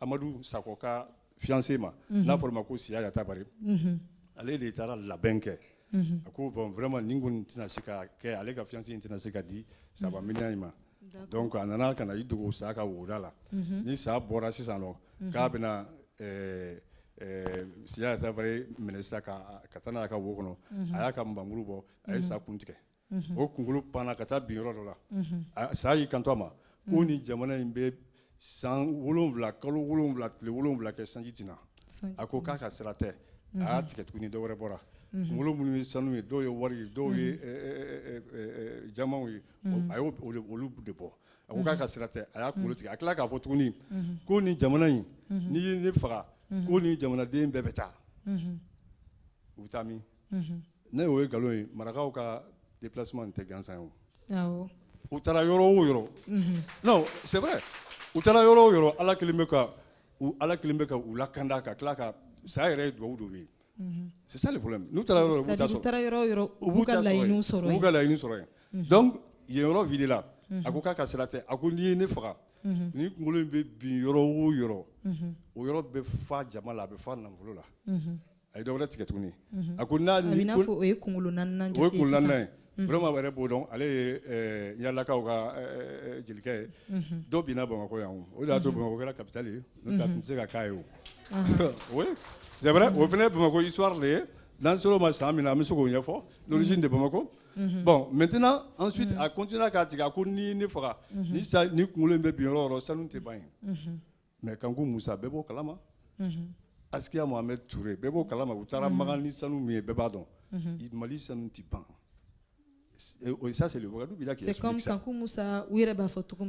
amadu sakɔ ka fiancé ma n'a fɔra ma ko Siya Yatabari ale de taara labɛn kɛ a ko bon vraiment nin kɔni tɛna se ka kɛ ale ka fiancé in tɛna se ka di saba miniyan in ma donc a nana ka na i dogo sa ka woda la ni sa bɔra sisan nɔ k'a bɛna eh, eh, Siya Yatabari minɛ sisan ka taa n'a ye a ka wo kɔnɔ a y'a ka nbamuru bɔ a ye sa kun tigɛ o kunkolo panna ka taa bin yɔrɔ dɔ la sa y'i kanto a ma ko ni jamana in bɛ san wolonwula kalo wolonwula tile wolonwula kɛ sanji tɛ na a ko k'a ka sira tɛ a y'a tigɛ tuguni dɔ wɛrɛ bɔra kunkolo minnu ye sanu ye dɔw ye wari ye dɔw ye jamaw ye a y'olu de bɔ a ko k'a ka sira tɛ a y'a kunkolo tigɛ a tila k'a fɔ tuguni ko ni jamana in n'i ye ne faga ko ni jamanaden bɛɛ bɛ taa u bɛ taa min ne o ye nkalon ye marakaw ka déplacement tɛ gansan ye u taara yɔrɔ o yɔrɔ c'est vrai u taara yɔrɔ o yɔrɔ ala kelen bɛ ka u lakanda ka tila ka sa yɛrɛ ye dugawu dɔ ye c'est ça le problème n'u taara yɔrɔ u b'u ka laɲini sɔrɔ yen donc yen yɔrɔ videla a ko k'a ka sira tɛ a ko n'i ye ne faga ni kunkolo in bɛ bin yɔrɔ o yɔrɔ o yɔrɔ bɛ fa jama la a bɛ fa nafolo la a ye dɔ wɛrɛ tigɛ tuguni a ko n'a o ye kunkolo naaninan ye vraiment yɛrɛ b'o dɔn ale ye yaalakaw ka jelikɛ ye dɔ binna bamakɔ yan o de y'a to bamakɔ kɛra capitale ye n'o tɛ a tun tɛ se ka k'a ye oui c'est vrai o fana bamakɔ histoire de ye n'an ser'o ma san min na an bɛ se k'o ɲɛfɔ l'origine de bamakɔ bon maintenant ensuite a continué k'a tigɛ a ko ni ne faga ni kunkolo in bɛ bin yɔrɔ o yɔrɔ sanu tɛ ban yen Mɛ kan ko musa bɛɛ b'o kalama akiya ma bɛ tu bɛɛ b'o kalama u taara makan ni sanu min ye bɛɛ b'a dɔn mali sanu tɛ ban o sa seli sa u yɛrɛ b'a fɔ cogo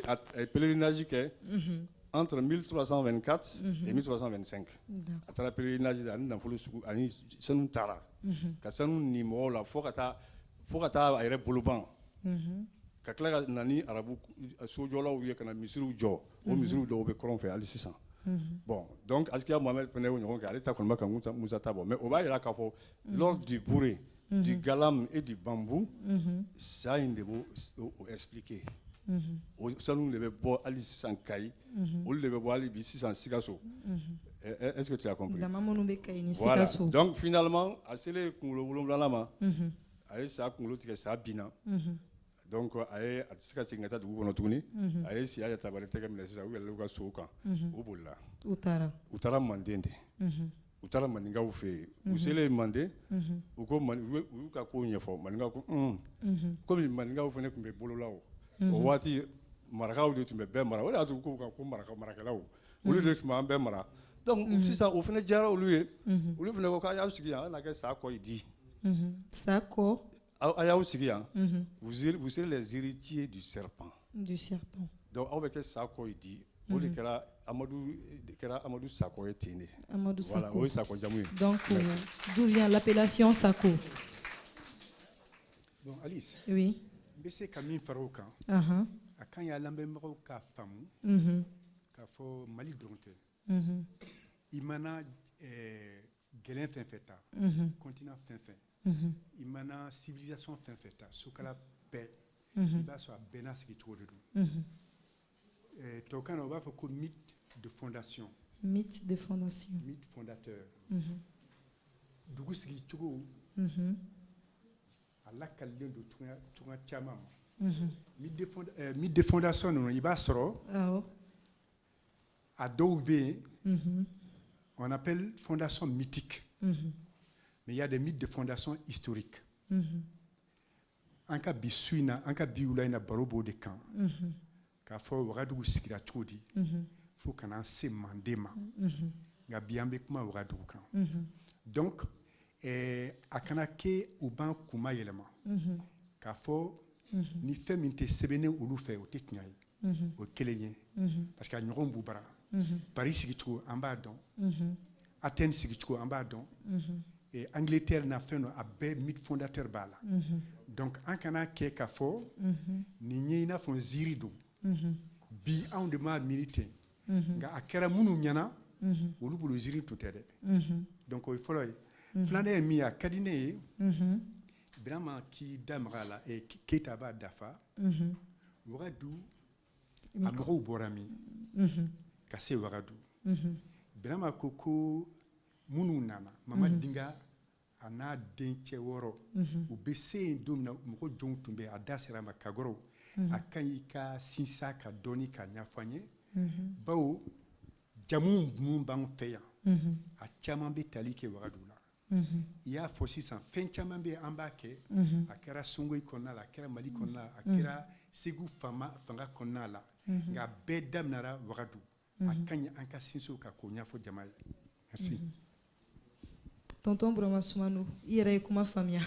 a pereinazi kɛ an sɔrɔ mi tora sanfɛ ka mi san a taara pereinazi ani nafolo ani sanu taara ka sanu ni mɔgɔw la fo ka taa fo ka taa a yɛrɛ bolo ban ka tila ka na ni arabu sojɔlaw ye ka na misiriw jɔ o misiriw dɔw bɛ kɔrɔn fɛ hali sisan bon donc askiya mohamed fana y'o ɲɔgɔn kɛ ale ta kɔni ma kanku musa ta bɔ mais o b'a jira k'a fɔ l'or du bouré du galam et du bambouk sa in de b'o expliquer o sanu de bɛ bɔ hali sisan kayi unhun, olu de bɛ bɔ hali bi sisan Sikaso, unhun, est ce que tu as compris? dama minnu bɛ Kayi ni Sikaso, voilà donc finalement a selen kunkolo wolonwulanan ma, unhun, a ye sa kunkolo tigɛ sa binna, unhun, donc a ye a tɛ se ka segin ka taa dugu kɔnɔ tuguni, unhun, a ye Siya Yatabare tɛgɛ minɛ sisan u yɛlɛla u ka sow kan, unhun, u bolila, u taara, u taara Manden de, unhun. u taara maninkaw fɛ yen u selen manden u ko u y'u ka kow ɲɛfɔ maninkaw ko kɔmi maninkaw fana tun bɛ bolola o waati marakaw de tun bɛ bɛɛ mara o de y'a to u k'u kan ko maraka marakɛlaw olu de tun b'an bɛɛ mara donc sisan o fana diyara olu ye olu fana ko k'a y'aw sigi yan a na kɛ sa kɔ di sa kɔ aw a y'aw sigi yan mhm. vous serez les héritiers du serpent du serpent donc aw bɛ kɛ sa kɔ ye di o de kɛra amadu de kɛra amadu sakɔ ye ten de Amadou voilà Sako. o ye sakɔ jamu ye Donc, euh, Merci. d'où vient l'appellation Sako bon alice Oui. n bɛ se ka min fara o kan Uh-huh. a ka ɲi an lamɛnbagaw k'a faamu Mhm. k'a fɔ mali dɔrɔn tɛ Mhm. i mana eh, gɛlɛn fɛn fɛn ta Mhm. continent fɛn fɛn i mana civilisation fɛn fɛn ta sukala bɛɛ i b'a sɔrɔ a bɛɛ n'a sigicogo de don tubabukan na u b'a fɔ ko mythe de fondation mythe de fondation mythe fondateur dugu sigicogo a lakalilen don cogoya caman ma mythe de fondation ninnu i b'a sɔrɔ a dɔw bɛ yen mhm. on appelle fondation mythique mhm. mais il y a des mythes de fondation historique mhm. an ka bi su in na an ka bi wula in na baro b'o de kan k'a fɔ wagadugu sigira cogo di fo ka n'an se manden ma nka bi an bɛ kuma wagadugu kan donc eh, a kana kɛ u b'an kun mayɛlɛma k'a fɔ ni fɛn min tɛ sɛbɛnnen olu fɛ o tɛ tiɲɛ ye o ye kelen ye parce que a ɲɔgɔn b'u bara Paris sigicogo an b'a dɔn Athènes sigicogo an b'a dɔn Angleterre na fɛn dɔ a bɛɛ mythe fondateur b'a la donc an kana kɛ k'a fɔ nin ye i n'a fɔ nziiri don bi anw de m'a miiri ten nka a kɛra minnu ɲɛna olu bolo ziiri tun tɛ dɛ donc o ye fɔlɔ ye filanan ye min ye a ka di ne ye Birama k'i da maga a la ɛ Keyita b'a dafa, unhun, wagadu a mɔgɔw bɔra min, unhun, ka se wagadu, unhun, Birama ko ko minnu nana, unhun, Mama Dinga a n'a dencɛ wɔɔrɔ, unhun, u bɛ se yen don min na mɔgɔ jɔnw tun bɛ yen a da sera a ma Kagɔrɔw, unhun, a ka ɲi i ka sinsin a kan dɔɔnin k'a ɲɛfɔ an ye, unhun, bawo jamu minnu b'an fɛ yan, unhun, a caman bɛ tali kɛ wagadu la. i y'a fɔ sisan fɛn caman bɛ an b'a kɛ a kɛra songoyi kɔnɔna la a kɛra mali kɔnɔna la a kɛra segu fanga kɔnɔna la nka bɛɛ daminɛra wagadu a ka ɲi an ka sinsin o kan k'o ɲɛfɔ jama ye merci tonton burama sumano i yɛrɛ ye kuma faamuya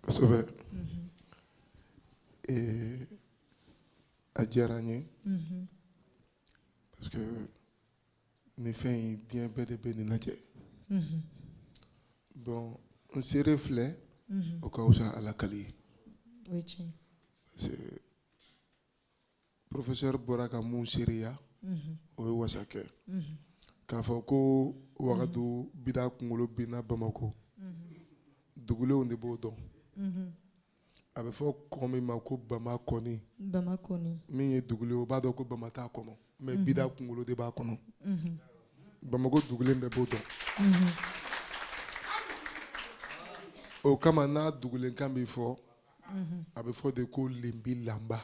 kosɛbɛ eh, a diyara n ye parce que nin fɛn in diɲɛ bɛɛ de bɛ nin lajɛ mhm. bon n seere filɛ mhm. o ka wusa ala kali ye parce que professeur bɔra ka min seereya mhm. o ye wasa kɛ k'a fɔ ko wagadu bida kunkolo binna bamakɔ dugulenw de b'o dɔn a bɛ fɔ kɔ min ma ko bamakɔni min ye dugulen o b'a dɔn ko bama t'a kɔnɔ mais mhm. bida kunkolo de b'a kɔnɔ mhm. bamakɔ dugulen bɛɛ b'o dɔn mhm. o kama n'a dugulenkan bɛ fɔ a bɛ fɔ de ko lenbi lanba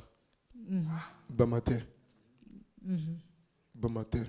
bama tɛ bama tɛ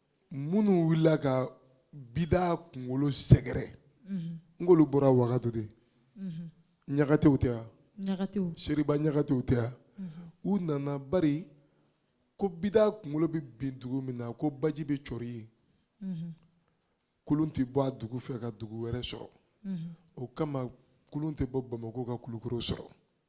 minnu wulila ka bidaa kunkolo sɛgɛrɛ mhm. n k'olu bɔra wagadu de mhm. ɲagatew tɛ wa seriba ɲagatew tɛ wa mhm. u nana bari ko bidaa kunkolo bɛ bin dugu min na ko baji bɛ cɔri yen kulun tɛ bɔ a dugu fɛ ka dugu wɛrɛ sɔrɔ o kama kulun tɛ bɔ bamako ka kulukoro sɔrɔ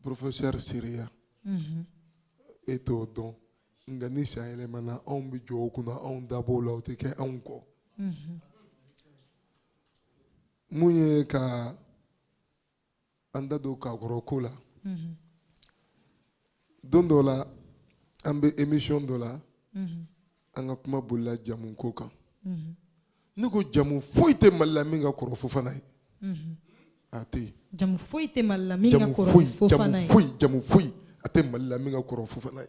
Professeur Seria. Mhm. E t'o dɔn. Nka ni san yɛlɛmana anw bɛ jɔ o kunna anw da b'o la o tɛ kɛ anw kɔ. Mhm. Mun ye ka an da don kakɔrɔ ko la. Mhm. Don dɔ la an bɛ émission dɔ la. An ka kuma bolila jamu ko kan. ne ko jamu foyi tɛ mali la min ka kɔrɔ fofana ye a tɛ yen jamu foyi tɛ mali la min ka kɔrɔ fofana ye foyi jamu foyi a tɛ mali la min ka kɔrɔ fofana ye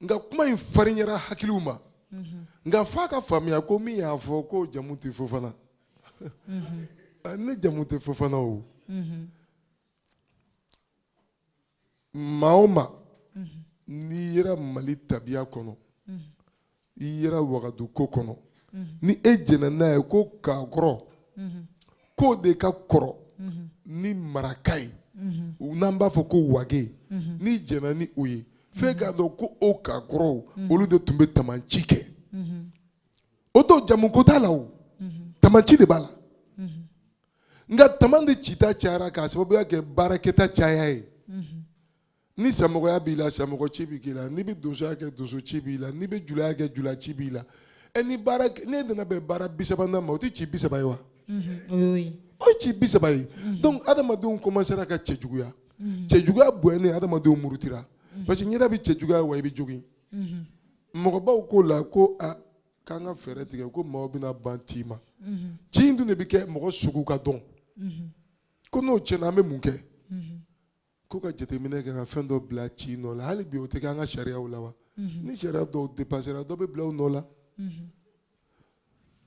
nka kuma in farinyara hakiliw ma nka f'a ka faamuya ko min y'a fɔ ko jamu tɛ fofana na jamu tɛ fofana o maa o maa n'i yera mali tabiya kɔnɔ i yera wagadu ko kɔnɔ ni e jɛnna n'a ye ko kakɔrɔ k'o de ka kɔrɔ ni maraka ye n'an b'a fɔ ko wage n'i jɛnna ni o ye f'e k'a dɔn ko o kakɔrɔw olu de tun bɛ tamanci kɛ o to jamuko t'a la o tamanci de b'a la nka taman de cita cayara k'a sababuya kɛ baarakɛta caya ye mhm. ni samɔgɔya b'i la samɔgɔ ci bɛ k'i la n'i bɛ donsoya kɛ donso ci b'i la n'i bɛ julaya kɛ jula ci b'i la ɛ ni baara n'e nana bɛn baara bi saba ma o tɛ ci bi saba ye wa mhm. o ye ci bi saba ye mhm. donc adamadenw kɔmansera ka cɛjuguya cɛjuguya bonyani adamadenw murutira parce que ɲɛda bɛ cɛjuguya wa i bɛ jogin mɔgɔbaw k'o la ko a k'an ka fɛɛrɛ tigɛ ko maaw bɛna ban ci ma ci in dun de bɛ kɛ mɔgɔ sugu ka dɔn ko n'o tiɲɛna an bɛ mun kɛ ko ka jateminɛ kɛ ka fɛn dɔ bila ci nɔ la hali bi o tɛ kɛ an ka sariyaw la wa ni sariya dɔw depasera dɔ bɛ bila u nɔ la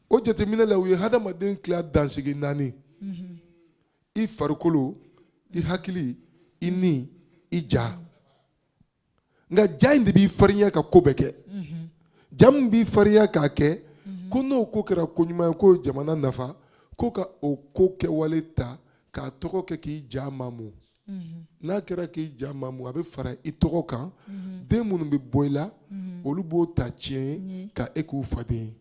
o jateminɛ la u ye hadamaden tila dansigi naani i farikolo i hakili i ni i ja nka ja in de b'i farinya ka ko bɛɛ kɛ ja min b'i farinya k'a kɛ ko n'o ko kɛra ko ɲuman ye k'o jamana nafa ko ka o ko kɛwale ta k'a tɔgɔ kɛ k'i ja mamu n'a kɛra k'i ja mamu a bɛ fara i tɔgɔ kan den minnu bɛ bɔ i la olu b'o ta tiɲɛ ye ka e k'u faden ye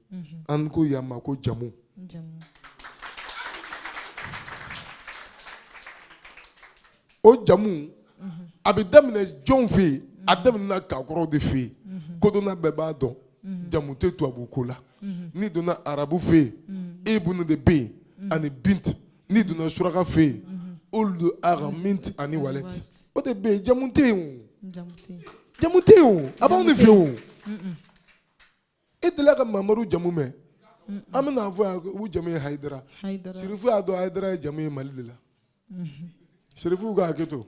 an ko yan ma ko jamu o jamu a bɛ daminɛ jɔnw fɛ yen a daminɛna kakɔrɔw de fɛ yen kodɔnna bɛɛ b'a dɔn jamu tɛ tubabu ko la n'i donna arabu fɛ yen ibunu de bɛ yen ani binti n'i donna suraka fɛ yen uludu aga minti ani walɛti o de bɛ yen jamu tɛ yen o jamu tɛ yen o a b'anw de fɛ yen o e delila ka mamadu jamu mɛn an bɛna fɔ yan u jamu ye hayidara sirifu y'a dɔn hayidara ye jamu ye mali de la mhm. sirifu ka hakɛ to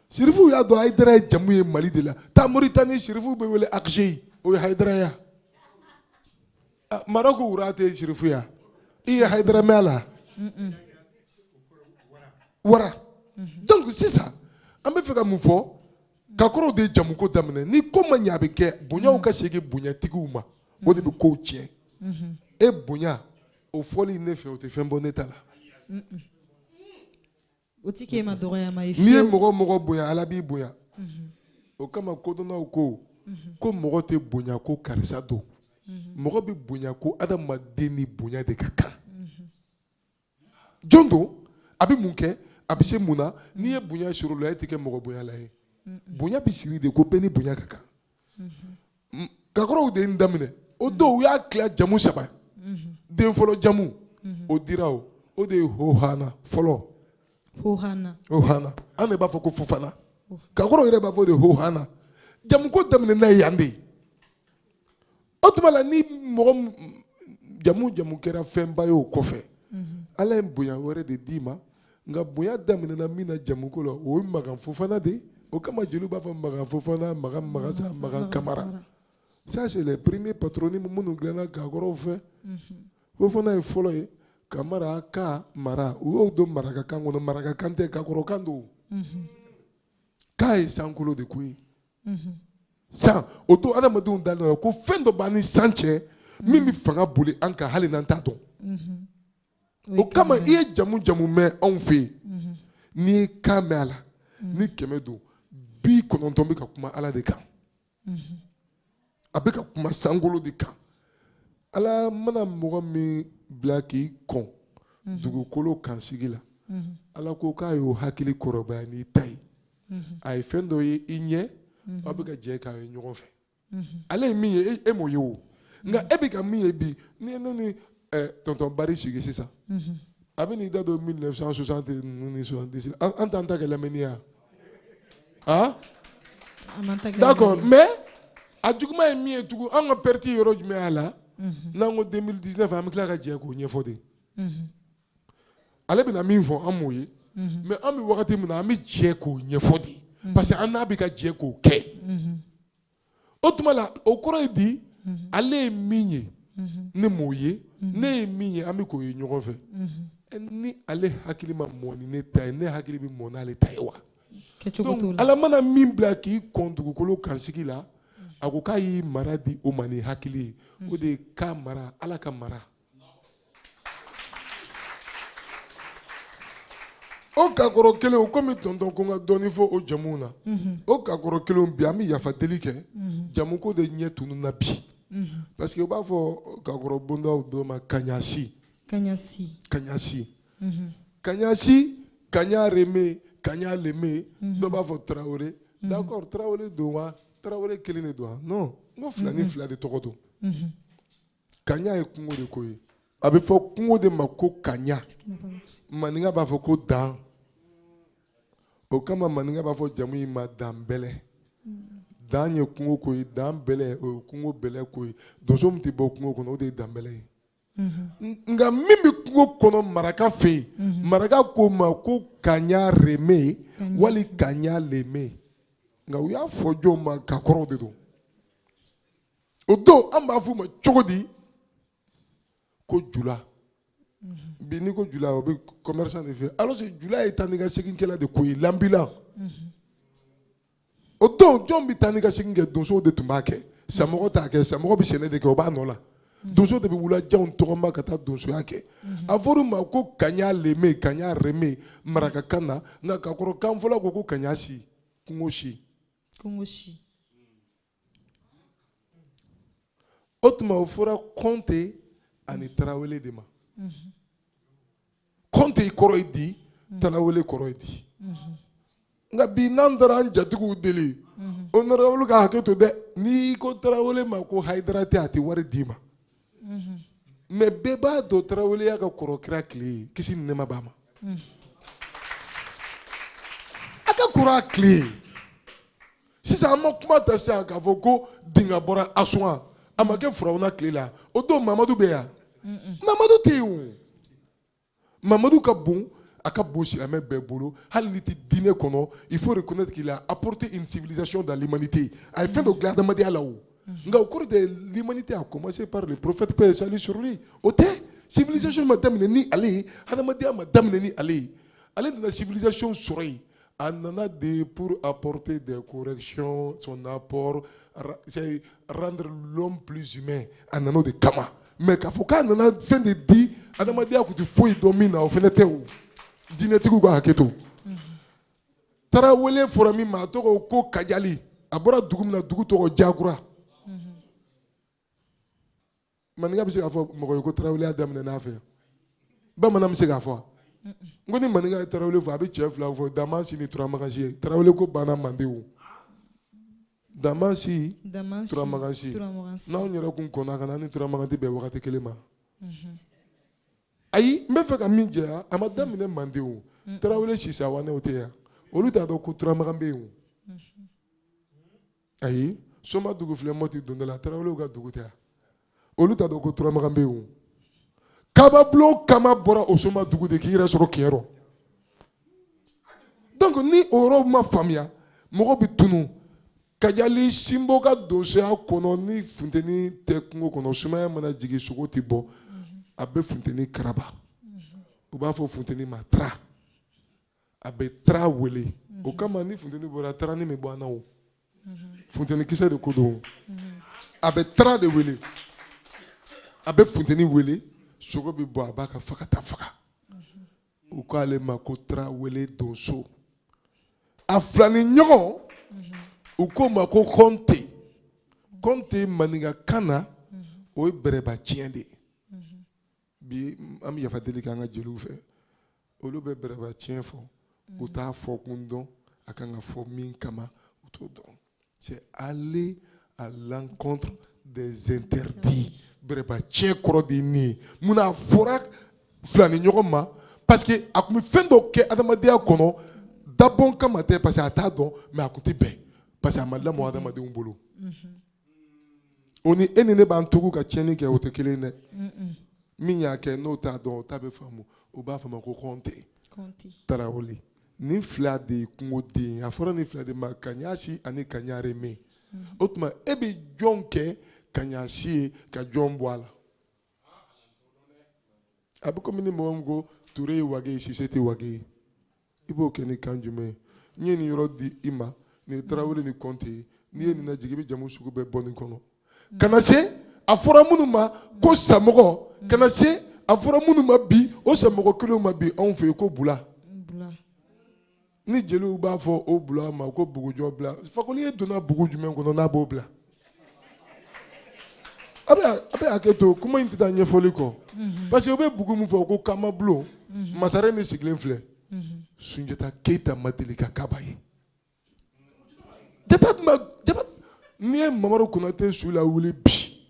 sirifu y'a dɔn hayidara ye jamu ye mali de la taa moritani sirifu bɛ wele akisei o ye hayidara ya ah, marɔku roi tɛ sirifu ya i ye hayidara mɛn a la wa mhm. donc sisan an bɛ fɛ ka mun fɔ kakɔrɔw de ye jamuko daminɛ ni ko ma ɲɛ a bɛ kɛ bonyaw ka segin bonyatigiw ma o de bɛ kow tiɲɛ e bonya o fɔli ne fɛ o tɛ fɛn bɔ ne ta la o tɛ k'e ma dɔgɔyama ye n'i ye mɔgɔ mɔgɔ bonya ala b'i bonya o kama kodɔnnaw ko ko mɔgɔ tɛ bonya ko karisa don mɔgɔ bɛ bonya ko adamaden ni bonya de ka kan jɔn don a bɛ mun kɛ a bɛ se mun na n'i ye bonya sɔrɔ o la e tɛ kɛ mɔgɔ bonyala ye bonya bɛ siri de ko bɛɛ ni bonya ka kan mm-hmm. kakɔrɔw de ye nin daminɛ o don u y'a tila jamu saba mm-hmm. den fɔlɔ jamu mm-hmm. o dira o o de ye hohana fɔlɔ hohana hohana an de b'a fɔ ko fofana kakɔrɔw yɛrɛ b'a fɔ o de hohana jamuko daminɛ n'a ye yan de ye o tuma la ni mɔgɔ jamu jamu kɛra fɛnba ye o kɔfɛ mhm. ala ye bonya wɛrɛ de d'i ma nka bonya daminɛna min na jamuko la o ye magan fofana de ye o kama jeliw b'a fɔ magan fofana magan magasa magan kamara ça c'est les premiers patronymes minnu dilanna kakɔrɔw fɛ mhm. fofana ye fɔlɔ ye kamara ka mara u y'o don marakakan kɔnɔ marakakan tɛ kakɔrɔkan don mhm. ka ye sankolo de ko ye san o don adamadenw dara a la ko fɛn dɔ b'an ni san cɛ min bɛ fanga boli an kan hali n'an t'a dɔn o kama i ye jamu jamu mɛn anw fɛ yen mhm. n'i ye kan mɛn a la mhm. ni kɛmɛ don bi kɔnɔntɔn bɛ ka kuma ala de kan mhm. a bɛ ka kuma sankolo de kan ala mana mɔgɔ min bila k'i kɔn mhm. dugukolo kan sigi la mhm. ala ko k'a y'o hakili kɔrɔbaya n'i ta ye mhm. a ye fɛn dɔ ye i ɲɛ aw bɛ ka jɛ k'a ye ɲɔgɔn fɛ ale ye min ye e, e m'o ye o nka e bɛ ka min ye bi n'i ye ne ni tɔntɔn bari sigi sisan a bɛn'i da don 1960 ninnu ni 70 an t'an ta kɛ lamɛnni ye wa. Hein? D'accord, mais a juguman ye min ye tugun an ka perte yɔrɔ jumɛn y'a la n'an ko 2019 an bɛ tila ka jɛ k'o ɲɛfɔ de ale bɛna min fɔ an m'o ye mais an bɛ wagati min na an bɛ jɛ k'o ɲɛfɔ de parce que an n'a bɛ ka jɛ k'o kɛ o tuma la o kɔrɔ ye di mhm. ale ye min ye mhm. ne m'o ye mhm. ne ye min ye an bɛ k'o ye ɲɔgɔn fɛ ni ale hakili ma mɔ ni ne ta ye ne hakili bɛ mɔ n'ale ta ye wa donc ala mana min bila k'i kɔn dugukolo kan sigi la a ko k'a y'i mara di o ma ni hakili ye o de ye k'a mara ala ka mara o kakɔrɔ kelen komi tɔntɔn ko n ka dɔɔni fɔ o jamuw na mhm. o kakɔrɔ kelen bi an bɛ yafa deli kɛ mhm. jamu ko de ɲɛ tununna bi mhm. parce que u b'a fɔ kakɔrɔ bondaw dɔ ma kaɲasi kaɲasi kaɲasi kaɲasi kaɲa reme kaɲa leme dɔ b'a fɔ tarawele d'accord tarawele don wa tarawele kelen de don wa non n ko filanin fila de tɔgɔ don kaɲa ye kungo de ko ye a bɛ fɔ kungo de ma ko kaɲa maninka b'a fɔ ko dan o kama maninka b'a fɔ jamu in ma danbɛlɛ dan ye kungo ko ye dan bɛlɛ o ye kungo bɛlɛ ko ye donso min tɛ bɔ kungo kɔnɔ o de ye danbɛlɛ ye nka min bɛ kungo kɔnɔ maraka fɛ yen mhm. maraka k'o ma ko kaɲa reme wali kaɲa leme nka u y'a fɔ jɔn ma kakɔrɔw de don o don an b'a f'u ma cogo di ko jula bi n'i ko jula o bɛ commerçant de fɛ alors que jula ye taa ni ka segin kɛla de ko ye lanbilan o don jɔn bɛ taa ni ka segin kɛ donsow de tun b'a kɛ samɔgɔ t'a kɛ samɔgɔ bɛ sɛnɛ de kɛ o b'a nɔ la donso de bɛ wulajanw tɔgɔma ka taa donsoya kɛ a fɔr'a ma ko kaɲa leme kaɲa reme marakakan na nka kakɔrɔkan fɔla ko ko kaɲa si kungo si kungo si o tuma o fɔra kɔnte ani tarawele de ma kɔnte kɔrɔ ye di tarawele kɔrɔ ye di nka bi n'an taara an jatigiw deli honorable ka hakɛ to dɛ n'i ko tarawele ma ko hayidara tɛ a tɛ wari d'i ma mais bɛɛ b'a dɔn taraweleya ka kɔrɔ kira tile ye kisi ni nɛɛma b'a ma a ka kɔrɔ a tile ye sisan an ma kuma ta sisan k'a fɔ ko dinga bɔra asuwa a ma kɛ firawuna tile la o don mamadu bɛ yan mamadu tɛ yen o mamadu ka bon a ka bon silamɛ bɛɛ bolo hali n'i tɛ diinɛ kɔnɔ il faut reconnaître qu'il a apporté une civilisation dans l'humanité a ye fɛn dɔ dilan adamadenya la o nka o kɔrɔ tɛ l'humanité a commencé par le prophète paix et salut sur lui o tɛ civilisation ma daminɛ ni ale ye adamadenya ma daminɛ ni ale ye ale nana civilisation sɔrɔ yen a nana de pour apporter des corrections son apport c'est rendre l'homme plus humain a nana o de kama mais k'a fɔ k'a nana fɛn de di adamadenya kun tɛ foyi dɔn min na o fɛnɛ tɛ o diinɛtigiw ka hakɛ to tarawele fɔra min ma a tɔgɔ ko kajali a bɔra dugu min na dugu tɔgɔ jakura maninka bɛ se k'a fɔ mɔgɔ ye ko taraweleya daminɛna an fɛ bamanan bɛ se k'a fɔ n ko ni maninka ye tarawele fɔ a bɛ cɛ fila fɔ damansi ni turamagansi ye tarawele ko banna manden o damansi turamagansi n'anw yɛrɛ kun kɔnna ka na ni turamagan tɛ bɛn wagati kelen ma mhm. ayi n bɛ fɛ ka min jɛya a ma daminɛ manden o tarawele sisawanew tɛ yan olu t'a dɔn ko turamagan bɛ yen o ayi somadugu filɛ mɔti donda la tarawelew ka dugu tɛ yan olu t'a dɔn ko turamagan bɛ yen kababulon kama bɔra o somadugu de k'i yɛrɛ sɔrɔ kiyɔrɔ donc ni o yɔrɔ ma faamuya mɔgɔ bɛ tunun kajali sinbo ka donsoya kɔnɔ ni funteni tɛ kungo kɔnɔ sumaya mana jigin sogo tɛ bɔ a bɛ funteni karaba u b'a fɔ funteni ma tara a bɛ tra wele o kama ni funteni bɔra tarani bɛ bɔ an na o funteni kisɛ de ko don a bɛ tra de wele a bɛ funteni wele sogo bɛ bɔ a b'a ka fagata faga u k'ale ma ko tra wele donso a filani ɲɔgɔn u k'o ma ko kɔnte kɔnte maninkakan na o ye bɛrɛba tiɲɛ de ye bi an bɛ yafa deli k'an ka jeliw fɛ olu bɛ bɛrɛba tiɲɛ fɔ u t'a fɔ kun dɔn a kan ka fɔ min kama u t'o dɔn c'est aller à l'encontre des interdits bɛrɛba tiɲɛ kɔrɔ de ye nin ye mun na a fɔra filani ɲɔgɔn ma parce que a tun bɛ fɛn dɔ kɛ adamadenya kɔnɔ dabɔn kama tɛ parce que a t'a dɔn mais a tun tɛ bɛn parce que a ma lamɔ adamadenw bolo. Mm -hmm. o ni e ni ne b'an tugu ka tiɲɛni kɛ o tɛ kelen dɛ min y'a kɛ n'o t'a dɔn o t'a bɛɛ faamu u b'a fɔ ma ko kɔnte tarawele nin fila de ye kungo den a fɔra nin fila de ma kaɲasi ani kaɲareme o tuma e bɛ jɔn kɛ kaɲasi ye ka jɔn bɔ a la a bɛ komi ni mɔgɔ min ko ture ye wage ye sise tɛ wage ye i b'o kɛ ni kan jumɛn ye n ye nin yɔrɔ di i ma nin ye tarawele ni kɔnte ye n'i ye nin lajigin i bɛ jamu sugu bɛɛ bɔ nin kɔnɔ ka na se a fɔra minnu ma ko samɔgɔ ka na se a fɔra minnu ma bi o samɔgɔ kelenw ma bi anw fɛ yen ko bula ni jeliw b'a fɔ o bula ma ko bugujɔ bila fakoli ye donna bugu jumɛn kɔnɔ n'a b'o bila a bɛ a bɛ hakɛ to kuma in tɛ taa ɲɛfɔli kɔ parce que u bɛ bugu min fɔ ko kamabulon masaren de sigilen filɛ sunjata keyita ma deli ka kaba ye jata tun bɛ jata n'i ye mamadu konate su lawuli bi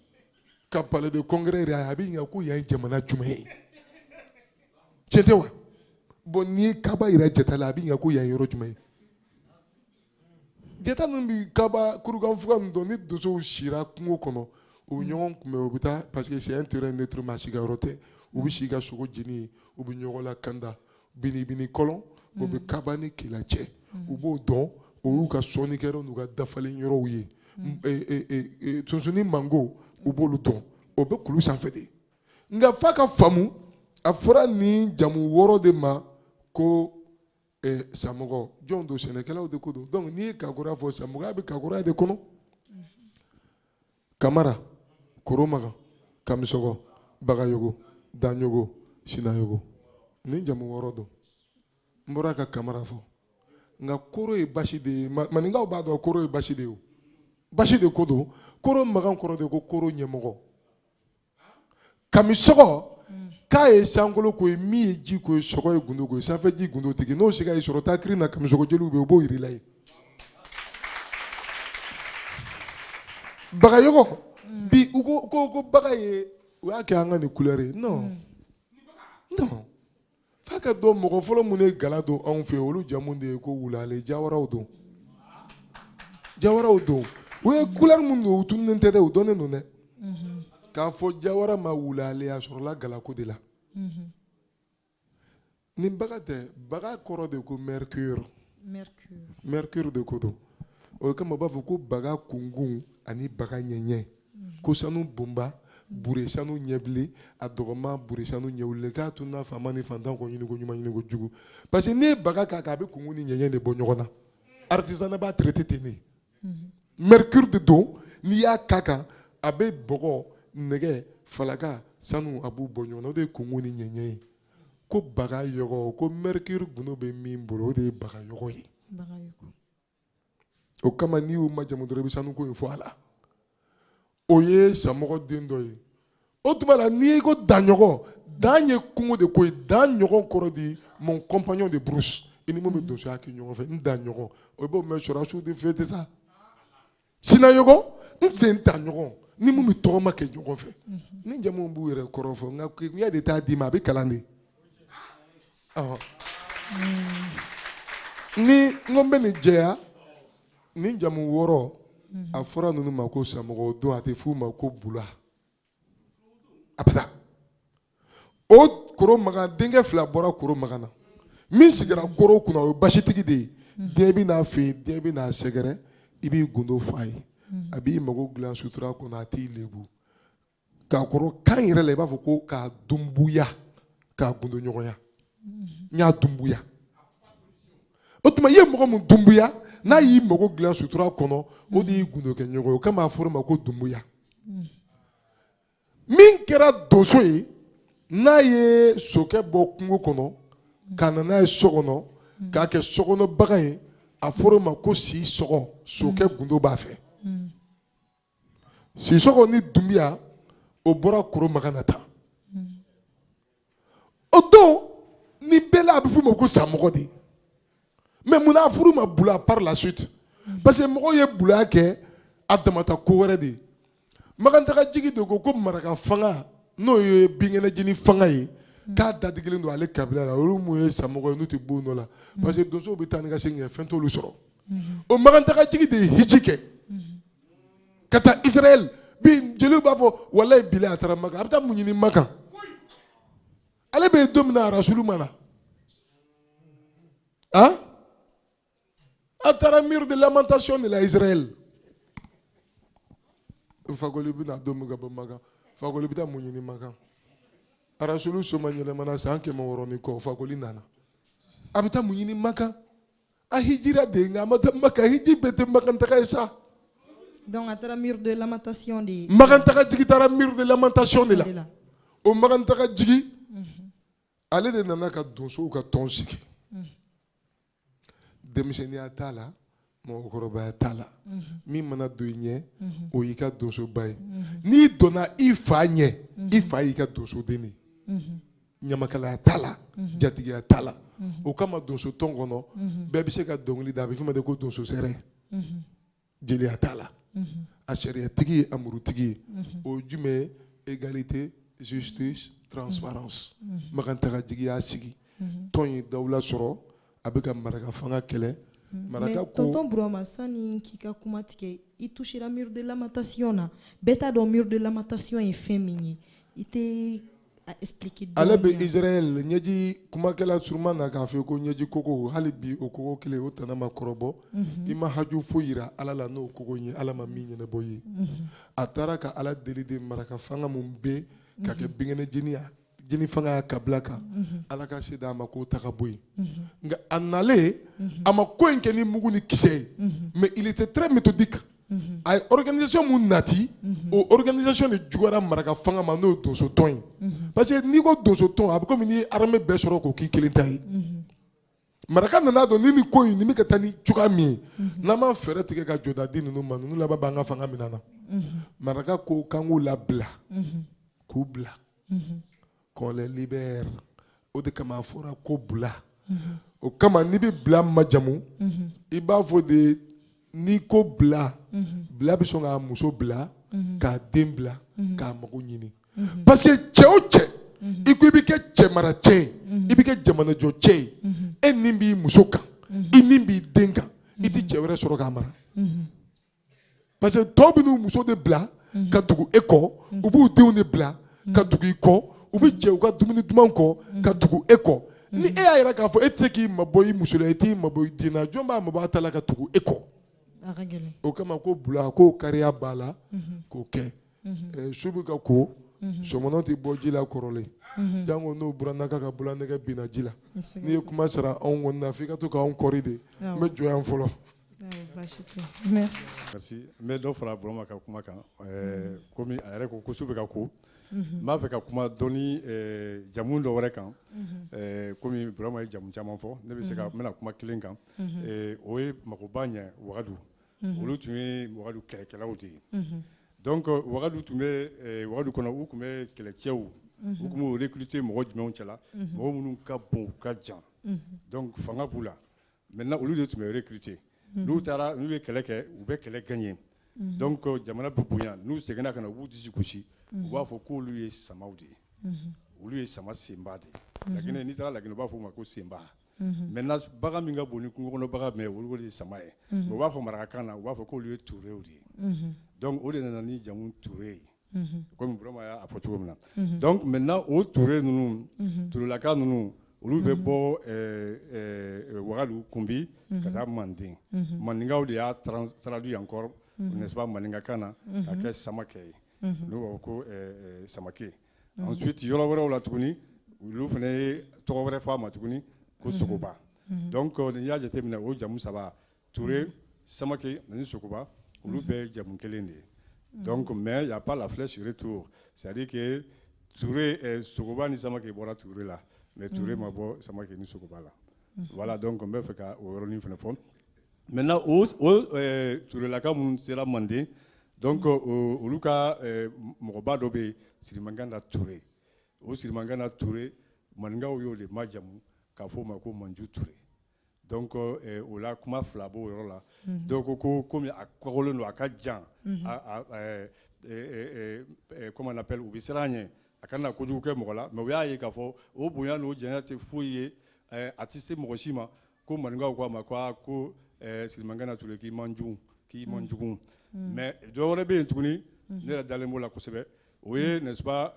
ka palais de congrès yira a bɛ ɲininka ko yan ye jamana jumɛn ye tiɲɛ tɛ wa bon n'i ye kaba yira jata la a bɛ ɲininka ko yan ye yɔrɔ jumɛn ye jata ninnu bɛ kaba kurukanfuga ninnu dɔn ni donsow sira kungo kɔnɔ u bɛ ɲɔgɔn kunbɛn u bɛ taa parce que c'est un terrain neutre maa si ka yɔrɔ tɛ u bɛ si ka sogo jeni u bɛ ɲɔgɔn lakanda binibini kɔlɔn o bɛ kaba ni kela cɛ u b'o dɔn o y'u ka sɔnnikɛyɔrɔ n'u ka dafalen yɔrɔw ye sunsunni mango u b'olu dɔn o bɛ kulu sanfɛ de nka f'a ka faamu a fɔra nin jamu wɔɔrɔ de ma ko Eh, samɔgɔ jɔn don sɛnɛkɛlaw de ko don donc n'i ye kagɔrɔ fɔ samɔgɔya bɛ kagɔrɔ de kɔnɔ kamara koromaga kamisɔgɔ bagayogo danyogo sinayogo nin jamu wɔɔrɔ don n bɔra ka kamara fɔ nka koro ye basi de ye maninkaw b'a dɔn koro ye basi de ye o basi de ko don koromagan kɔrɔ de ko koro ɲɛmɔgɔ kamisɔgɔ ka ye sankolo ko ye mi ye ji ko ye sɔgɔ ye gundo ko ye sanfɛ ji gundo tigi n'o siga y'i sɔrɔ taa kirina kamisɔgɔ jeliw bɛ yen u b'o yir'i la yen bagayɔgɔ bi u ko ko ko baga ye u y'a kɛ an ka nin couleur ye non non F'a ka dɔn mɔgɔ fɔlɔ minnu ye gala don anw fɛ olu jamu de ye ko wulale jawaraw don jawaraw don u ye couleur minnu don u tununen tɛ dɛ u dɔnnen don dɛ k'a fɔ jawara ma wulale a sɔrɔla galako de la nin baga tɛ baga kɔrɔ de ko mercure mercure de ko don o kama u b'a fɔ ko baga kunkun ani baga ɲɛɲɛ ko sanu bonba bure sanu ɲɛbilen a dɔgɔma bure sanu ɲɛwulen k'a tun na faama ni fantan ko ɲiniko ɲuman ɲiniko jugu parce que n'i ye baga k'a kan a bɛ kunkun ni ɲɛɲɛ de bɔ ɲɔgɔn na artisanat b'a traité ten de mhm. mercure de don n'i y'a k'a kan a bɛ bɔgɔ nɛgɛ falaka sanu a b'u bɔ ɲɔgɔn na o de ye kunkun ni ɲɛɲɛ ye ko bagayɔgɔ ko mercure gundo bɛ min bolo o de ye bagayɔgɔ ye o kama n'i y'u majamu dɔrɔn i bɛ sanuko in fɔ a la o ye samɔgɔ den dɔ ye o tuma la n'i ko danɲɔgɔn dan ye kungo de ko ye danɲɔgɔn kɔrɔ di mon compagnon de brousse i ni mun bɛ donsoya kɛ ɲɔgɔn fɛ n danɲɔgɔn o b'o mɛn sɔrɔsiw de fɛ tɛ sa sinayɔgɔ n sentaɲɔgɔn ni mun bɛ tɔgɔma kɛ ɲɔgɔn fɛ nin jamuw b'u yɛrɛ kɔrɔ fɔ nka kegunya de t'a d'i ma a bɛ kalan de ni n ko n bɛ nin jɛya nin jamu wɔɔrɔ a fɔra ninnu ma ko samɔgɔ don a tɛ f'u ma ko bula abada o koro makan denkɛ fila bɔra koro makan na min sigira koro kunna o ye basitigi de ye den bɛ n'a fɛ den bɛ n'a sɛgɛrɛ i b'i gundo fɔ a ye a b'i mago dilan sutura kɔnɔ a t'i lebu kakoro kan yɛrɛ la i b'a fɔ ko k'a dunbuya k'a gundo ɲɔgɔnya n y'a dunbuya o tuma i ye mɔgɔ min dunbuya n'a y'i mago dilan sutura kɔnɔ o de y'i gundo kɛ ɲɔgɔn ye o kama a fɔra o ma ko dunbuya min kɛra donso ye n'a ye sokɛ bɔ kungo kɔnɔ ka na n'a ye so kɔnɔ k'a kɛ sokɔnɔbagan ye a fɔra o ma ko sisɔgɔ sokɛ gundo b'a fɛ sisɔgɔ ni dunbiya o bɔra koro makan na tan o don nin bɛɛ la a bɛ f'u ma ko samɔgɔ de mais munna a fɔr'u ma bula par la suite parce que mɔgɔw ye bulaya kɛ a damata ko wɛrɛ de ye makantaga jigi de ko ko maraka fanga n'o ye binkɛnɛjini fanga ye k'a dadigilen don ale kabila la olu mun ye samɔgɔ ye n'u tɛ bon dɔ la parce que donsow bɛ taa ni ka segin kɛ fɛn t'olu sɔrɔ o makantaga jigi de ye hiji kɛ ka taa israɛl bi jeliw b'a fɔ walayi bilayi a taara makan a bɛ taa mun ɲini makan ale bɛ yen don min na arasulu ma na a a taara mur de lamentation de la israɛl fakoli bɛna don min ka bɔ makan fakoli bɛ taa mun ɲini makan arasulu somayɛlɛmana san kɛmɛ wɔɔrɔ ni kɔ fakoli nana a bɛ taa mun ɲini makan A hijira de nka a ma taa Maka hiji bɛɛ tɛ Makan taga ye sa. Donc a taara mur de lamentation de ye. Makantaga jigi taara mur de lamentation de la. O Makantaga jigi ale de nana ka donsow ka tɔn sigi. Denmisɛnninya t'a la mɔgɔkɔrɔbaya t'a la min mana don i ɲɛ o y'i ka donsoba ye n'i donna i fa ɲɛ i fa y'i ka donsoden de ye. ɲamakalaya t'a la mhm. jatigiya t'a la mhm. o kama donso tɔn kɔnɔ mhm. bɛɛ bɛ se ka dɔnkili da a bɛ f'o ma de ko donso sɛrɛ jeliya t'a la a sariyatigi ye a murutigi ye o ye jumɛn ye égalité justice transparence makantaga jigi y'a sigi tɔn ye dawula sɔrɔ a bɛ ka maraka fanga kɛlɛ maraka ko tonton burama sani k'i ka kuma tigɛ i touchera mur de lamentation na bɛɛ t'a dɔn mur de lamentation ye fɛn min ye i tɛ ale bɛ israel ɲɛji kumakɛla surunma na k'a fɔ ko ɲɛji kogo hali bi o kogo kelen o tana ma kɔrɔbɔ i ma haju foyi yira ala la n'o kogo ye ala ma min ɲɛnabɔ ye a taara ka ala deli de maraka fanga min bɛ ka kɛ binkɛnɛ jeni jeni fanga y'a kabila kan ala ka se d'a ma k'o ta ka bɔ yen nka a nalen a ma ko in kɛ ni mugu ni kisɛ ye mais il était très méthodique Mhm. a ye organisation min nati mhm. o organisation de juguyara maraka fanga ma n'o ye donsotɔn ye mhm. parce que n'i ko donsotɔn a bɛ komi n'i ye armée bɛɛ sɔrɔ k'o k'i kelen ta ye maraka nana dɔn ni nin ko in nin bɛ ka taa ni cogoya min ye n'an ma fɛɛrɛ tigɛ ka jɔda di ninnu ma ninnu laban b'an ka fanga minɛ an na maraka ko k'an k'u labila k'u bila qu'on les libère o de kama a fɔra ko bila o kama n'i bɛ bila majamu i b'a fɔ de n'i ko bila bila bɛ sɔn k'a muso bila k'a den bila k'a mago ɲini parce que cɛ o cɛ i ko i bɛ kɛ cɛmara cɛ ye i bɛ kɛ jamanajɔ cɛ ye e nin b'i muso kan i nin b'i den kan i tɛ cɛ wɛrɛ sɔrɔ k'a mara parce que tɔw bɛ n'u muso de bila mhm. ka tugu e kɔ mhm. u b'u denw de bila mhm. ka tugu i kɔ u bɛ jɛ u ka dumuni duman kɔ ka tugu e kɔ ni e y'a yira k'a fɔ e tɛ se k'i mabɔ i muso la i t'i mabɔ i den na jɔn b'a mabɔ a ta la ka tugu e kɔ o kama ko bula k'o kariya b'a la k'o kɛ eh, su bɛ ka ko sɔmɔnɔ tɛ bɔ ji la kɔrɔlen jango n'o burannaka ka bololanɛgɛ binna ji la n'i ye kuma sara anw kɔni na f'i ka to k'anw kɔri de n bɛ jɔ yan fɔlɔ N bɛ dɔ fara Burama ka kuma kan kɔmi a yɛrɛ ko su bɛ ka ko n b'a fɛ ka kuma dɔɔni jamu dɔ wɛrɛ kan kɔmi Burama ye jamu caman fɔ ne bɛ se ka n bɛna kuma kelen kan o ye magoba ɲɛ wagadu olu tun ye wagadu kɛlɛkɛlaw de ye donc wagadu tun bɛ wagadu kɔnɔ u tun bɛ kɛlɛcɛw u tun b'u recruter mɔgɔ jumɛnw cɛla mɔgɔ minnu ka bon u ka jan donc fanga b'u la Maintenant olu de tun bɛ recruter n'u taara n'u ye kɛlɛ kɛ u bɛ kɛlɛ gagner donc jamana bɛ bonya n'u seginna ka na u b'u disi gosi u b'a fɔ ko olu ye sama de ye olu ye sama senba de ye n'i taara Laginɛ u b'a fɔ o ma ko senba maintenant bagan min ka bon ni kungo kɔnɔ bagan bɛɛ olu de ye sama ye u b'a fɔ marakakan na u b'a fɔ k'olu ye turew de ye donc o de nana ni jamu ture ye kɔmi burama y'a fɔ cogo min na donc maintenant o ture ninnu turelaka ninnu olu bɛ bɔ wagadu kunbi ka taa manden maninkaw de y'a traduit encore n'est-ce pas maninkakan na ka kɛ samakɛ ye n'u b'a fɔ ko samake ensuite yɔrɔ wɛrɛw la tuguni olu fana ye tɔgɔ wɛrɛ fɔ a ma tuguni ko sogoba donc n'i y'a jateminɛ o jamu saba Ture samakɛ ani sogoba olu bɛɛ ye jamu kelen de ye donc mais il y a pas la flèche retour c'est-à-dire sogoba ni samakɛ bɔra ture la mais ture ma bɔ samakɛ ni sogoba la voilà donc n bɛ fɛ ka o yɔrɔnin fana fɔ maintenant turelaka minnu sera manden donc olu ka mɔgɔba dɔ bɛ yen sirimankana ture o sirimankana ture maninkaw y'o de majamu k'a fɔ o ma ko manju ture Donc o la kuma fila b'o yɔrɔ la dɔw ko ko kɔmi a kɔgɔlen don a ka jan comment on appelle u bɛ siran a ɲɛ a kana kojugu kɛ mɔgɔ la mais u y'a ye k'a fɔ o bonya n'o janya tɛ foyi ye a tɛ se mɔgɔ si ma ko maninkaw k'a ma ko ko sirimankana ture k'i man jugu k'i man jugu mais dɔ wɛrɛ bɛ yen tuguni ne yɛrɛ dalen b'o la kosɛbɛ o ye n'est-ce pas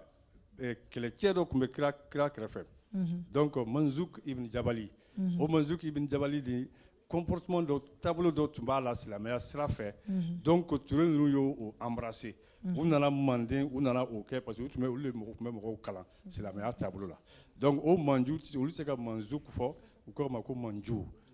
eh, kɛlɛcɛ dɔ tun bɛ kira, kira kɛrɛfɛ mhm. donc manzuk ibn jabali mhm. o manzuk ibn jabali de comportement dɔ taabolo dɔ tun b'a la silamɛya sira fɛ mhm. donc ture ninnu y'o embrasser u nana manden u nana o kɛ parce que u tun bɛ olu de mɔgɔ tun bɛ mɔgɔw kalan silamɛya taabolo la donc o manju olu tɛ se ka manzuk fɔ u k'o ma ko manju